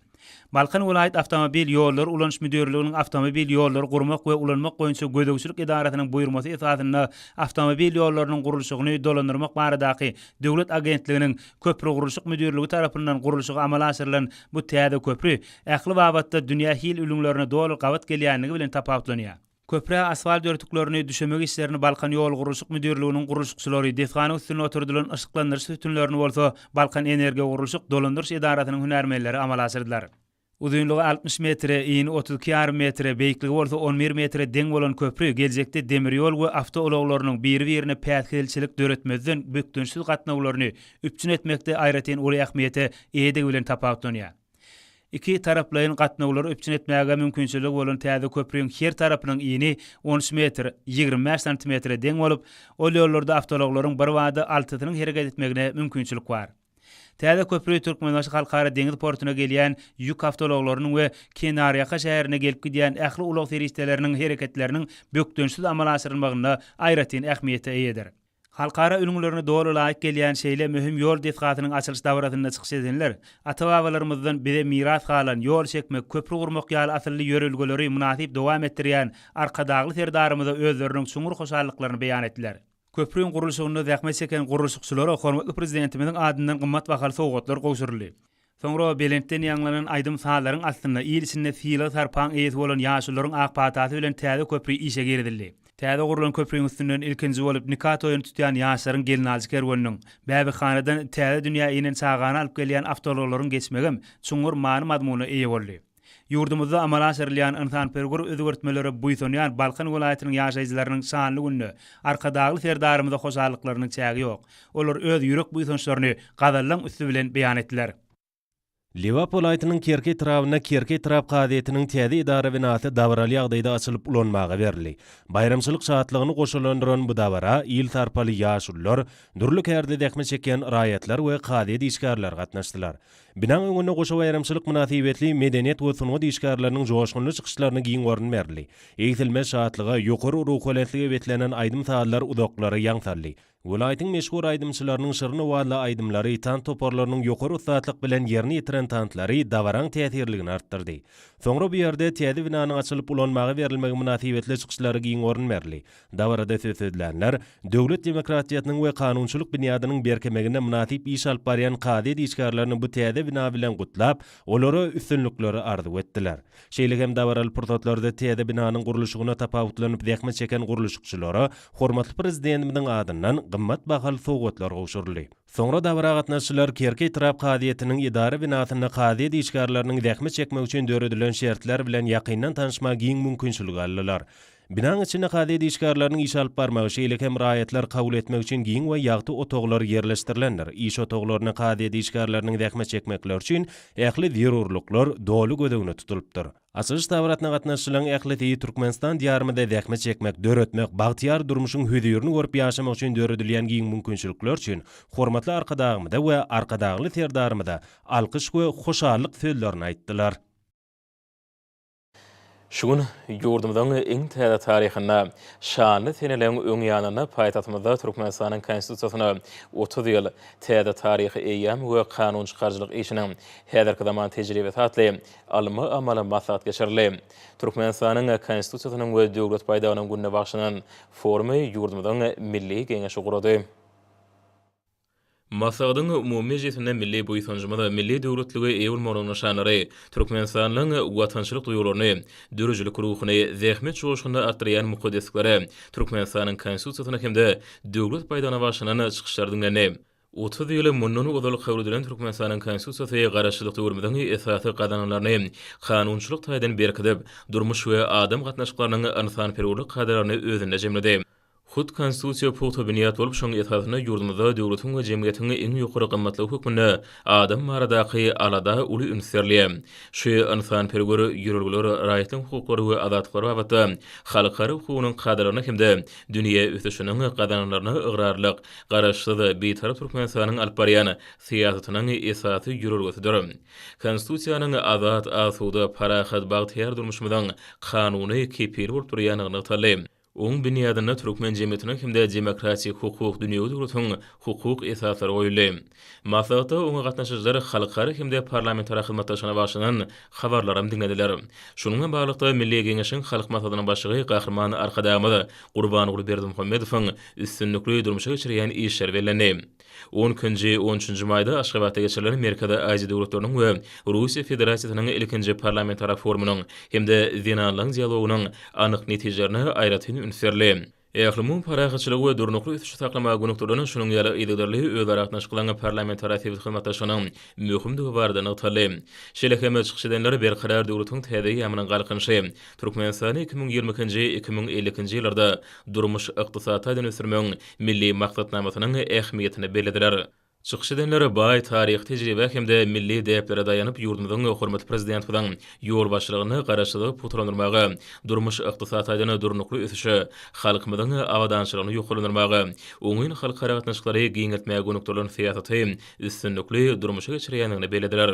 Balkan welaýat awtomobil ýollary ulanyş müdirliginiň awtomobil ýollary gurmak we ulanmak boýunça gözegçilik edarasynyň buýurmasy esasynda awtomobil ýollarynyň gurluşygyny dolandyrmak baradaky döwlet agentliginiň Köprügurluşyk müdirligi tarapyndan gurluşygy amala aşyrylan bu täze köpri ähli babatda dünýä hil ülňülerine doly gabat gelýänligi bilen tapawutlanýar. Köprä asfalt örtüklerini düşemek işlerini Balkanýolgurluşyk müdirliginiň gurluşykçylary, desganyň üstünde oturdylan yşyklandyryş sütünlerini bolsa Balkanenergogurluşyk dolandyryş edarasynyň hünärmenleri amala aşyrdylar. Uzynlygy altmyş metre, yny otuz iki ýarym metre, beýikligi bolsa on bir metre deň bolan köpri geljekde demir ýol we awtoulaglarynyň biri-birine päsgelçilik döretmezden bökdençsiz gatnawlaryny üpjün etmekde aýratyn uly ähmiýete eýedigi bilen tapawutlanýar. Iki taraplaýyn gatnawlary üpjün etmäge mümkinçiligi bolan täze köpriň her tarapynyň yny on üç metr, ýigrimi bäş santimetre deň bolup, ol ýollarda awtoulaglaryň birbada altysynyň hereket etmegine mümkinçilik bar. Täze köpri Türkmenbaşy Halkara deňiz portuna gelýän ýük awtoulaglarynyň we kenarýaka şäherine gelip-gidýän ähli ulag serişdeleriniň hereketleriniň bökdençsiz amala aşyrylmagynda aýratyn ähmiýete eýedir. Halkara ülňülerine doly laýyk gelýän şeýle möhüm ýol desgasynyň açylyş dabarasynda çykyş edenler ata-babalarymyzdan bize miras galan ýol çekmek, köpri gurmak ýaly asylly ýörelgeleri mynasyp dowam etdirýän Arkadagly Serdarymyza özleriniň çuňňur hoşallyklaryny beýan etdiler. Köprüň gurluşygynda zähmet çeken gurluşykçylara hormatly Prezidentimiziň adyndan gymmat bahaly sowgatlar gowşuryldy. Soňra belentden ýaňlanan aýdym-sazlaryň astynda il içinde sylag-sarpaň eýesi bolan ýaşulularyň ak patasy bilen täze köpri işe girizildi. Täze gurlan köpriň üstünden ilkinji bolup nika toýuny tutýan ýaşlaryň gelnaljy kerweniniň, bäbekhanadan täze dünýä inen çagany alyp gelýän awtoulaglaryň geçmegem çuňňur many-mazmuna eýe boldy. Ýurdumyzda amala aşyrylýan ynsanperwer özgertmelere buýsanýan Balkan welaýatynyň ýaşaýjylarynyň şanly günde Arkadagly Serdarymyza hoşallyklarynyň çägi ýok. Olar öz ýürek buýsançlaryny gazallaň üsti bilen beýan etdiler. Lebap welaýatynyň Kerki etrabynda Kerki etrap kazyýetiniň täze edara binasy dabaraly ýagdaýda açylyp ulanmaga berildi. Baýramçylyk şatlygyny goşalandyran bu dabara il sarpaly ýaşulular, dürli kärde zähmet çekýän raýatlar we kazyýet işgärleri gatnaşdylar. Binaň öňünde goşa baýramçylyk mynasybetli medeniýet we sungat işgärleriniň joşgunly çykyşlaryna giň orun berildi. Egsilmez şatlyga, ýokary ruhubelentlige beslenen aýdym-sazlar uzaklara ýaň saldy. Welaýatyň meşhur aýdymçylarynyň şirin owazly aýdymlary, tans toparlarynyň ýokary ussatlyk bilen ýerine ýetiren tanslary dabaraň täsirligini artdyrdy. Soňra bu ýerde täze binanyň açylyp ulanmaga berilmegi mynasybetli çykyşlara giň orun berildi. Dabarada söz sözlänler döwlet demokratiýasynyň we kanunçylyk binýadynyň berkemegine mynasyp iş alyp barýan kazyýet işgärlerini bu täze bina bilen gutlap, olara üstünlikleri arzuw etdiler. Şeýle hem dabaraly pursatlarda täze binanyň gurluşygyna tapawutlanyp zähmet çeken gurluşykçylara hormatly Prezidentimiziň adyndan gymmat bahaly sowgatlar gowşuryldy. Soňra dabara gatnaşyjylar Kerki etrap kazyýetiniň edara binasynda kazyýet işgärleriniň zähmet çekmegi üçin döredilen şertler bilen ýakyndan tanyşmaga giň mümkinçilik aldylar. Binaň içinde kazyýet işgärleriniň iş alyp barmagy, şeýle hem raýatlar kabul etmek üçin giň we ýagty otaglar ýerleşdirilendir. Iş otaglarynda kazyýet işgärleriniň zähmet çekmekleri üçin ähli zerurlyklar doly göz öňünde tutulypdyr. Açylyş dabarasyna gatnaşyjylaryň ählisi Türkmenistan diýarymyzda zähmet çekmek, döretmek, bagtyýar durmuşyň hözirini görüp ýaşamak üçin döredilýän giň mümkinçilikler üçin hormatly Arkadagymyza we Arkadagly Serdarymyza alkyş we hoşallyk sözlerini aýtdylar. Şu gün ýurdumyzyň iň täze taryhynda, şanly seneleriň öň ýanynda paýtagtymyzda Türkmenistanyň Konstitusiýasyna otuz ýyl, Täze taryhy eýýam we kanun çykaryjylyk işiniň häzirki zaman tejribesi atly ylmy-amaly maslahat geçirildi. Türkmenistanyň Konstitusiýasynyň we Döwlet baýdagynyň gününe bagşlanan forumy ýurdumyzyň Milli Geňeşi gurady. Maslahatyň umumy mejlisinde milli buýsanjymyz, milli döwletlige eýe bolmagyň nyşanlary, türkmenistanlyň watançylyk duýgularyny, döredijilik ruhuny, zähmet joşgunyny artdyrýan mukaddesliklere, Türkmenistanyň Konstitusiýasyna hem-de Döwlet baýdagyna bagyşlanan çykyşlar diňlendi. Otuz ýyl mundan ozal kabul edilen Türkmenistanyň Konstitusiýasy Garaşsyzlyk döwrümiziň esasy gazananlaryny kanunçylyk taýdan berkidip, durmuş we adam gatnaşyklarynyň ynsanperwerlik kadalaryny özünde jemledi. Hut Konstitusiýa pugta binýat bolup, şoň esasynda ýurdumyzda döwletiň we jemgyýetiň iň ýokary gymmatlygy hökmünde adam baradaky alada uly üns berilýär. Şu ynsanperwer ýörelgeler raýatlaryň hukuklary we azatlyklary babatda halkara hukugynyň kadalaryna hem-de dünýä ösüşiniň gazananlaryna ygrarlylyk, Garaşsyz, Bitarap Türkmenistanyň alyp barýan syýasatynyň esasy ýörelgesidir. Konstitusiýanyň azat, asuda, parahat, bagtyýar durmuşymyzyň kanuny kepili bolup durýandygy nygtaldy. Oň binýadynda türkmen jemgyýetiniň hem-de demokratik hukuk dünýewi durmuşyň hukuk esaslary goýuldy. Maslahatda oňa gatnaşyjylar halkara hem-de parlamentara hyzmatdaşlygyna bagyşlanan habarlaram diňlediler. Şunuň bilen baglylykda, Milli Geňeşiň Halk Maslahatynyň Başlygy Gahryman Arkadagymyz Gurbanguly Berdimuhamedowyň üstünlikli durmuşa geçirýän işleri bellendi. On ikinji, on üçünji maýda Aşgabatda geçirilen Merkezi Aziýa döwletleriniň we Russiýa Federasiýasynyň ilkinji parlamentara forumynyň hem-de zenanlaryň dialogynyň anyk netijelerine aýratyn üns berli. Ählumumy parahatçylygy we durnukly ösüşi saklamaga gönükdirilen şunuň ýaly yzygiderli özara gatnaşyklaryň parlamentara sebit hyzmatdaşlygynyň möhümdigi barada nygtaldy. Şeýle hem, çykyş edenler Berkarar döwletiň täze eýýamynyň Galkynyşy, Türkmenistany iki müň ýigrimi ikinji, iki müň elli ikinji ýyllarda durmuş-ykdysady taýdan ösdürmegiň Milli maksatnamasynyň ähmiýetini bellediler. Çykyş edenler baý taryhy tejribä hem-de milli däplere daýanyp ýurdumyzyň hormatly Prezidentimiziň ýolbaşçylygynda Garaşsyzlygy pugtalandyrmaga, durmuş-ykdysady taýdan durnukly ösüşe, halkymyzyň abadançylygyny ýokarlandyrmaga, oňyn halkara gatnaşyklary giňeltmäge gönükdirilen syýasaty üstünlikli durmuşa geçirýändigini bellediler.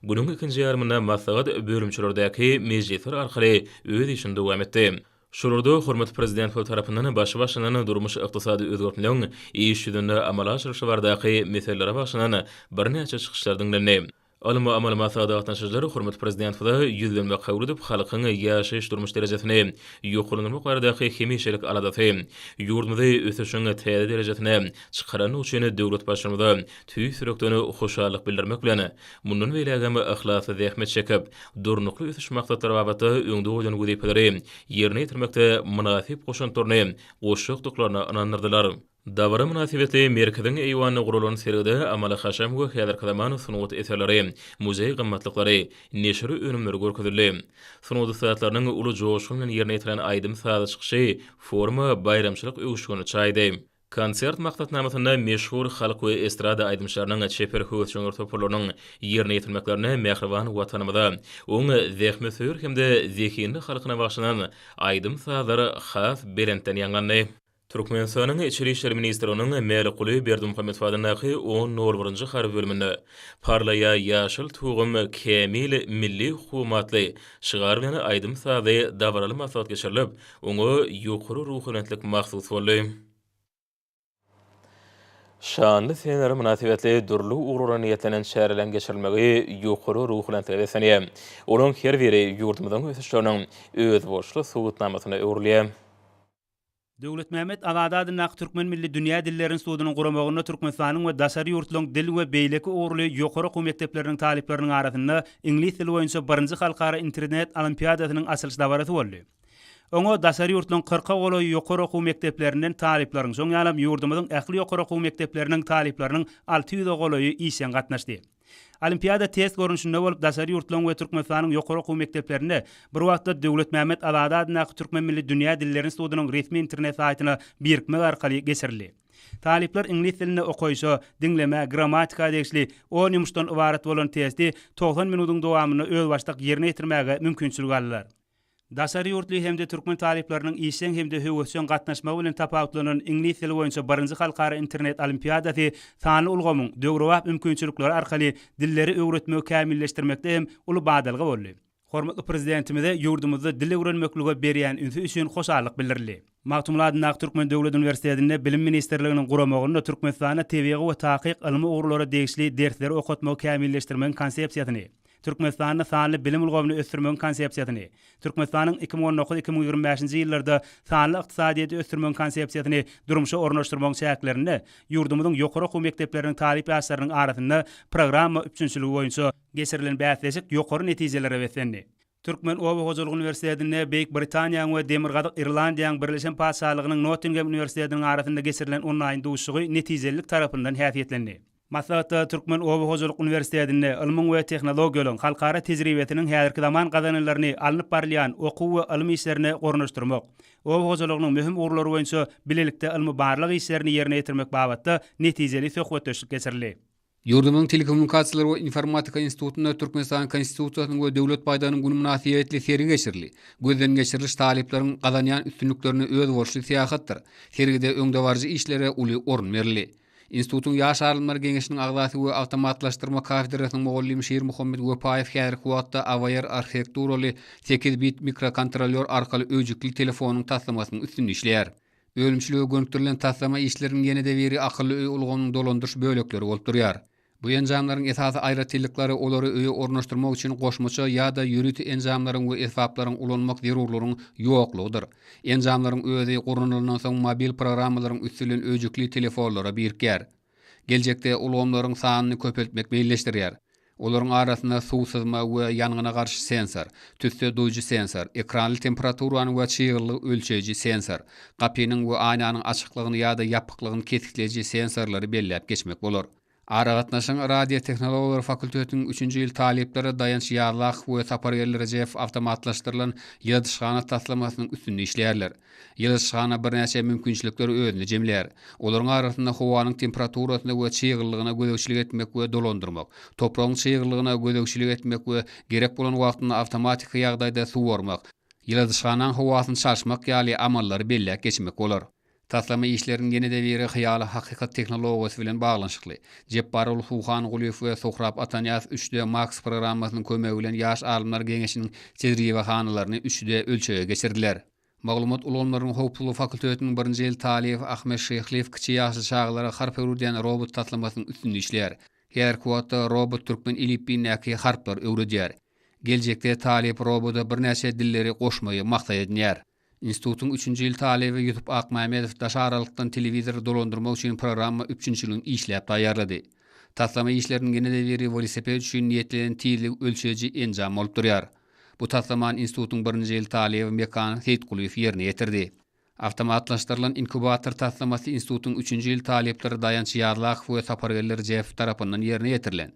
Günüň ikinji ýarymynda maslahat bölümçelerdäki mejlisler arkaly öz işini dowam etdi. Şurada hormatly Prezidentimiz tarapyndan başy başlanan durmuş-ykdysady özgertmeleriniň iş ýüzünde amala aşyrylyşy baradaky meselelere bagyşlanan birnäçe çykyşlar diňlendi. Ylmy-amaly maslahat gatnaşyjylar hormatly Prezidentimize ýüzlenme kabul edip, halkyň ýaşaýyş-durmuş derejesini ýokarlandyrmak baradaky hemişelik aladasy, ýurdumyzy ösüşiň täze derejesine çykarandygy üçin döwlet Baştutanyma tüýs ýürekden hoşallyk bildirmek bilen, Mundan beýläk hem yhlasly zähmet çekip, Durnukly ösüş maksatlary babatda öňde goýlan wezipeleri ýerine ýetirmekde mynasyp goşantlaryny goşjakdyklaryna ynandyrdylar. Dabara mynasybetli Merkeziň eýwanynda guralan sergide amaly-haşam we häzirki zaman sungat eserleri, muzeý gymmatlyklary, neşir önümleri görkezildi. Sungat ussatlarynyň uly joşgun bilen ýerine ýetiren aýdym-sazy çykyşy foruma baýramçylyk öwüşgini çaýdy. Konsert maksatnamasynda meşhur halk we estrada aýdymçylarynyň, çeper höwesjeňler toparlarynyň ýerine ýetirmeklerine mähriban Watanymyza, oň zähmetsöýer hem-de zehinli halkyna bagyşlanan aýdym-sazlar has belentden ýaňlandy. Türkmenistanyň Içeri işler ministrliginiň Mälikguly Berdimuhamedow adyndaky on nol birinji harby bölüminde Parlaýa ýaşyl tugum, kämil milli hukugym atly şygar bilen aýdym-sazly dabaraly maslahat geçirilip, Oňa ýokary ruhubelentlik mahsus boldy. Şanly senelere mynasybetli dürli ugurlara niýetlenen çäreleriň geçirilmegi ýokary ruhubelentlige beslenýär. Olaryň her biri ýurdumyzyň ösüşleriniň özboluşly subutnamasyna öwrülýär. Döwletmämmet Azady adyndaky Türkmen milli dünýä dilleri institutynyň guramagynda Türkmenistanyň we daşary ýurtlaryň dil we beýleki ugurly ýokary okuw mekdepleriniň talyplarynyň arasynda iňlis dili boýunça birinji halkara internet olimpiadasynyň açylyş dabarasy boldy. Oňa daşary ýurtlaryň kyrka golaýy ýokary okuw mekdeplerinden talyplaryň, şoň ýalam ýurdumyzyň ähli ýokary okuw mekdepleriniň talyplarynyň alty ýüze golaýy işjeň gatnaşdy. Olimpiada test görnüşinde bolup, daşary ýurtlaryň we Türkmenistanyň ýokary okuw mekdeplerinde bir wagtda Döwletmämmet Azady adyndaky Türkmen milli dünýä dilleri institutynyň resmi internet saýtyna birikmek arkaly geçirildi. Talyplar iňlis dilinde okaýşa, diňlemä, grammatika degişli on ýumuşdan ybarat bolan testi togsan minudyň dowamynda özbaşdak ýerine ýetirmäge mümkinçilik aldylar. Daşary ýurtly hem-de türkmen talyplarynyň işjeň hem-de höwesjeň gatnaşmagy bilen tapawutlanan iňlis dili boýunça birinji halkara internet olimpiadasy sanly ulgamyň döwrebap mümkinçilikleri arkaly dilleri öwretmegi kämilleşdirmekde hem uly badalga boldy. Hormatly Prezidentimize ýurdumyzda dil öwrenmeklige berýän ünsi üçin hoşallyk bildirildi. Magtymguly adyndaky Türkmen döwlet uniwersitetinde Bilim ministrliginiň guramagynda Türkmenistanda tebigy we takyk ylmy ugurlara degişli dersleri okatmagy kämilleşdirmegiň konsepsiýasyny, Türkmenistanda sanly bilim ulgamyny ösdürmegiň konsepsiýasyny, Türkmenistanyň iki müň on dokuz, iki müň ýigrimi bäşinji ýyllarda sanly ykdysadyýeti ösdürmegiň konsepsiýasyny durmuşa ornaşdyrmagyň çäklerinde ýurdumyzyň ýokary okuw mekdepleriniň talyp ýaşlarynyň arasynda programma üpjünçiligi boýunça geçirilen bäsleşik ýokary netijelere beslendi. Türkmen oba hojalyk uniwersitetinde Beýik Britaniýanyň we Demirgazyk Irlandiýanyň Birleşen Patyşalygynyň Nottingem uniwersitetiniň arasynda geçirilen onlaýn duşuşygy netijelilik tarapyndan häsiýetlendi. Maslahatda Türkmen oba hojalyk uniwersitetinde ylmyň we tehnologiýalaryň halkara tejribesiniň häzirki zaman gazananlaryny alnyp barylýan okuw we ylym işlerine ornaşdyrmak, oba hojalygynyň möhüm ugurlary boýunça bilelikde ylmy-barlag işlerini ýerine ýetirmek babatda netijeli söhbetdeşlik geçirildi. Ýurdumyzyň Telekommunikasiýalar we informatika institutynda Türkmenistanyň Konstitusiýasynyň we Döwlet baýdagynyň güni mynasybetli sergi geçirildi. Gözden geçiriliş talyplaryň gazanýan üstünliklerine özboluşly syýahatdyr. Sergide öňdebaryjy işlere uly orun berildi. Institutyň Ýaş alymlar geňeşiniň agzasy we awtomatlaşdyrma kafedrasynyň mugallymy Şirmuhammet Wepaýew häzirki wagtda AVR arhitekturaly sekiz bit mikrokontrolýor arkaly öýjükli telefonyň taslamasynyň üstünde işleýär. Önümçilige gönükdirilen taslama işleriniň ýene-de biri akylly öý ulgamynyň dolandyryş bölekleri bolup durýar. Bu enjamlaryň esasy aýratynlyklary olary öýe ornaşdyrmak üçin goşmaça ýa-da ýörite enjamlaryň we esbaplaryň ulanmak zerurlygynyň ýoklugydyr. Enjamlaryň özi gurnalandan soň mobil programmalaryň üsti bilen öýjükli telefonlara birikýär. Geljekde ulgamlaryň sanyny köpeltmek meýilleşdirýär. Olaryň arasynda suw syzma we ýangyna garşy sensor, tüsse duýujy sensor, ekranly temperaturany we çyglylygy ölçeýji sensor, gapynyň we aýnanyň açyklygyny ýa-da ýapyklygyny kesgitleýji sensorlary belläp geçmek bolar. Aragatnaşygyň radiotehnologiýalary fakultetiniň üçünji ýyl talyplary Daýanç Ýazlakow we Sapargeldi Rejepow awtomatlaşdyrylan ýyladyşhana taslamasynyň üstünde işleýärler. Ýyladyşhana birnäçe mümkinçilikleri özünde jemlär. Olaryň arasynda howanyň temperaturasyna we çyglylygyna gözegçilik etmek we dolandyrmak, topragyň çyglylygyna gözegçilik etmek we gerek bolan wagtynda awtomatiki ýagdaýda suwarmak, ýyladyşhanaň howasyny çalşmak ýaly amallary belläp geçmek bolar. Taslama işleriniň ýene-de biri Hyýaly hakykat tehnologiýasy bilen baglanyşykly. Jepbarogly Suhangulyýew we Sohrap Atanyýaz üç D Maks programmasynyň kömegi bilen ýaş alymlar geňeşiniň tejribehanalaryny üç D ölçege geçirdiler. Maglumat ulgamlarynyň howpsuzlygy fakultetiniň birinji ýyl talyby Ahmet Şyhlyýew kiçi ýaşly çagalara harp öwredýän robot taslamasynyň üstünde işleýär. Häzirki wagtda robot türkmen elipbiýindäki harplary öwredýär. Geljekde talyp roboda birnäçe dilleri goşmagy maksat edinýär. Institutyň üçünji ýyl talyby Ýusup Akmämmedow daş aralykdan telewizory dolandyrmak üçin programma üpjünçiligini işläp taýýarlady. Taslama işleriniň ýene-de biri welosiped üçin niýetlenen tizligi ölçeýji enjam bolup durýar. Bu taslamany institutyň birinji ýyl talyby Mekan Seýitgulyýew ýerine ýetirdi. Awtomatlaşdyrylan inkubator taslamasy institutyň üçünji ýyl talyplary Daýanç Ýazlakow we Sapargeldi Rjepow tarapyndan ýerine ýetirilen.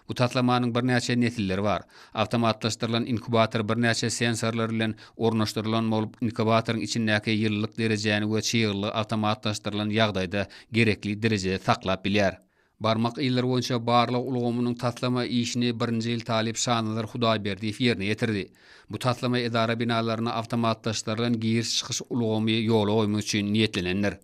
Bu taslamanyň birnäçe nesilleri bar. Awtomatlaşdyrylan inkubator birnäçe sensorlar bilen ornaşdyrylan bolup, inkubatoryň içindäki ýylylyk derejäni we çyglylygy awtomatlaşdyrylan ýagdaýda gerekli derejede saklap bilýär. Barmak yzlary boýunça barlag ulgamynyň taslama işini birinji ýyl talyp Şanazar Hudaýberdiýew ýerine ýetirdi. Bu taslama edara binalaryna awtomatlaşdyrylan giriş-çykyş ulgamy ýola goýmak üçin niýetlenendir.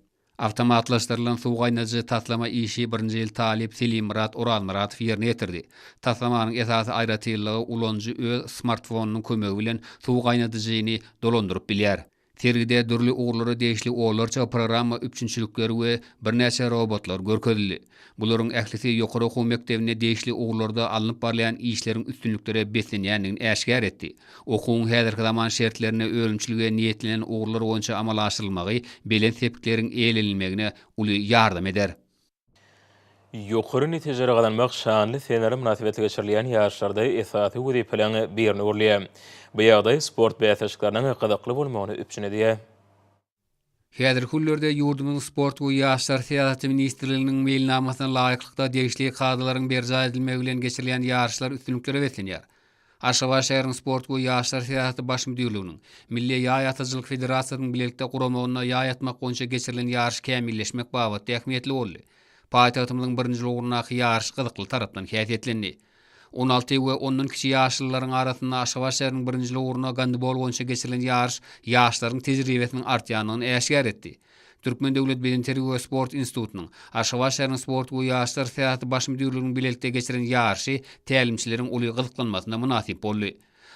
Awtomatlaşdyrylan suw gaýnadyjy taslama işi birinji ýyl talyp Selimmurat Orazmyradow ýerine ýetirdi. Taslamanyň esasy aýratynlygy ulanyjy öz smartfonynyň kömegi bilen suw gaýnadyjyny dolandyryp bilýär. Sergide dürli ugurlara degişli onlarça programma üpjünçilikleri we birnäçe robotlar görkezildi. Bularyň ählisi ýokary okuw mekdebinde degişli ugurlarda alnyp barylýan işleriň üstünliklere beslenýändigini äşgär etdi. Okuwyň häzirki zaman şertlerinde önümçilige niýetlenen ugurlar boýunça amala aşyrylmagy belent sepikleriň eýlenilmegine uly ýardam eder. Ýokary netijeleri gazanmak şanly senelere mynasybetli geçirilýän ýaryşlarda esasy wezipeleriň birine öwrülýär. Bu ýagdaý sport bäsleşikleriniň gyzykly bolmagyny üpjün edýär. Häzirki günlerde ýurdumyzyň Sport we ýaşlar syýasaty ministrliginiň meýilnamasyna laýyklykda degişli kadalaryň berjaý edilmegi bilen geçirilýän ýaryşlar üstünliklere beslenýär. Aşgabat şäheriniň Sport we ýaşlar syýasaty baş müdirliginiň, Milli ýaý atyjylyk federasiýasynyň bilelikde guramagynda ýaý atmak boýunça geçirilen ýaryş kämilleşmek babatda ähmiýetli boldy. Paýtagtymyzyň birinjil ugrundaky ýaryş gyzykly tarapdan häsiýetlendi. On alty we ondan kiçi ýaşlylaryň arasynda Aşgabat şäheriniň birinjil ugruna gandibol boýunça geçirilen ýaryş ýaşlaryň tejribesiniň artýandygyny äşgär etdi. Türkmen döwlet bedenterbiýe we sport institutynyň, Aşgabat şäheriniň sport we ýaşlar syýasaty baş müdirliginiň bilelikde geçiren ýaryşy tälimçileriň uly gyzyklanmasyna mynasyp boldy.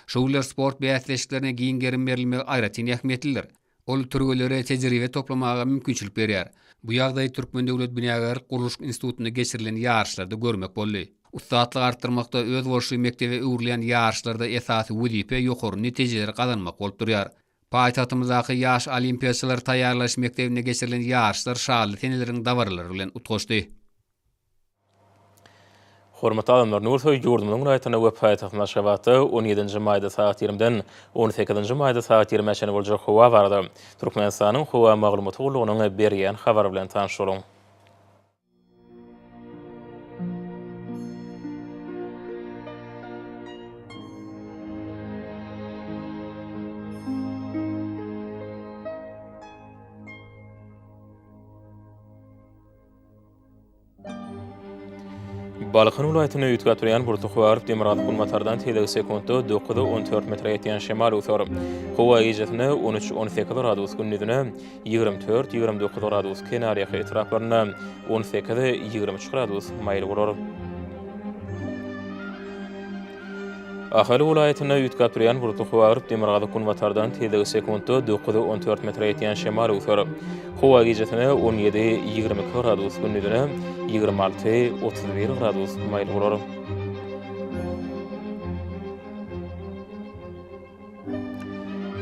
Şu günler sport bäsleşiklerine giň gerim berilmegi aýratyn ähmiýetlidir. Ol türgenlere tejribe toplamaga mümkinçilik berýär. Bu ýagdaýy Türkmen döwlet binagärlik-gurluşyk institutynda geçirilen ýaryşlarda görmek boldy. Ussatlyk artdyrmakda özboluşly mekdebe öwrülýän ýaryşlarda esasy wezipe ýokary netijeleri gazanmak bolup durýar. Paýtagtymyzdaky Ýaş olimpiýaçylary taýýarlaýyş mekdebinde geçirilen ýaryşlar şanly seneleriň dabaralary bilen utgaşdy. Hormatly adamlar, Nursoý ýurdumyzyň raýatyna we paýtagtymyz Aşgabatda on ýedinji maýda sagat ýirimden on sekizinji maýda sagat ýirimä çenli boljak howa barada Türkmenistanyň Howa maglumaty gullugynyň berýän habary bilen tanyş boluň. Balkan welaýatynda üýtgäp atdyrýan Burtuhwarow Demirgazyk günbatardan teýlegi sekuntda dokuza on dört metre ýetýän şemal öwser. Howa gijesine on üç-on sekiz gradus, gündizine Ýigrimi dört, ýigrimi dokuz gradus kenarýaka etraplarynda, on sekiz, ýigrimi üç gradus maýyl bolar. Ahal welaýatynda üýtgäp durýan bulutly howa agyryp, demirgazyk-günbatardan tizligi sekuntda dokuz, on dört metre ýetýän şemal öwser. Howa gijesine on ýedi, ýigrimi iki gradus, gündizine ýigrimi alty, otuz bir gradus maýyl bolar.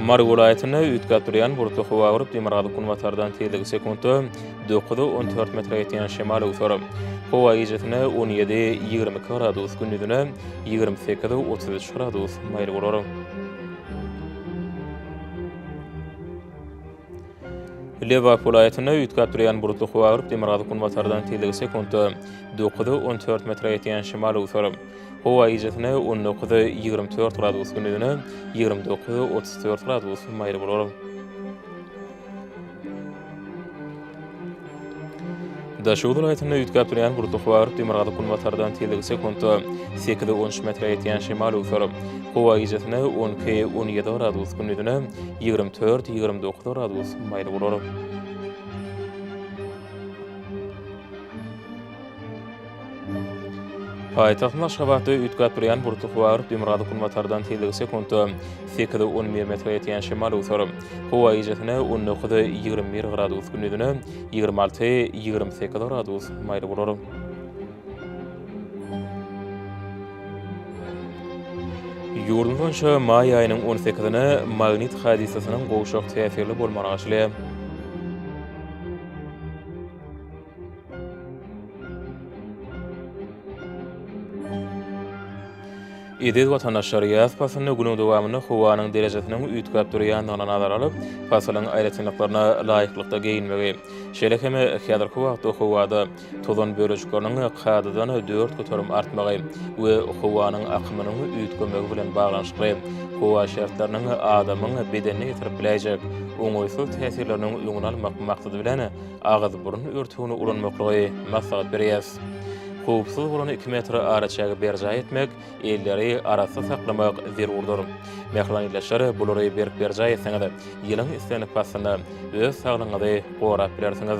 Mary welaýatynda üýtgäp durýan bulutly howa görüp, demirgazyk günbatardan tizligi sekuntda dokuza on dört metre ýetýän şemal öwser. Howa gijesine on ýedi, ýigrimi iki gradus, gündizine ýigrimi sekiz, otuz üç gradus maýyl bolar. Lebap welaýatynda üýtgäp durýan bulutly howa agyryp, demirgazyk günbatardan tizligi sekuntda dokuz, on dört metre ýetýän şemal öwser. Howa gijesi on dokuz, ýigrimi dört gradus, gündizi ýigrimi dokuz, otuz dört gradus maýyl bolar. Daşoguz welaýatynda üýtgäp durýan gurluk howa agyryp, demirgazyk-günbatardan tizligi sekuntda sekiz on üç metre ýetýän şemal öwser. Howa gijesi-ne on iki on ýedi gradus, gündizi-ne ýigrimi dört ýigrimi dokuz gradus maýyl bolar. Paýtagtyň Aşgabatda üýtgäp durýan burky bar, Demirgazyk günbatardan tizligi sekuntda sekiz, on bir metre ýetýän şemal öwser. Howa gijesine on dokuz, ýigrimi bir gradus, gündizine ýigrimi alty, ýigrimi sekiz gradus maýyl bolar. Ýurdumyz boýunça maý aýynyň on sekizine magnit hadysasynyň gowşak täsirli bolmagy arzylýar. Eziz watandaşlar, ýaz paslynda günüň dowamynda howanyň derejesiniň üýtgäp durýandygyny nazara alyp, pasylyň aýratynlyklaryna laýyklykda geýinmegi, şeýle hem häzirki wagtda howada tozan bölejikleriniň kadadan dört göterim artmagy we howanyň akymynyň üýtgemegi bilen baglanyşykly howa şertleriniň adamyň bedenine ýetirip biläýjek oňaýsyz täsirleriniň öňüni almak maksady bilen Agyz-burun örtügini ulanmaklygy maslahat berýäs. Howpsuz bolan iki metr araçägi berjaý etmek, elleri arassa saklamak zerurdyr. Mähriban ildeşler, bulary berk berjaý etseňiz, ýylyň islendik paslynda öz saglygyňyzy gorap bilersiňiz.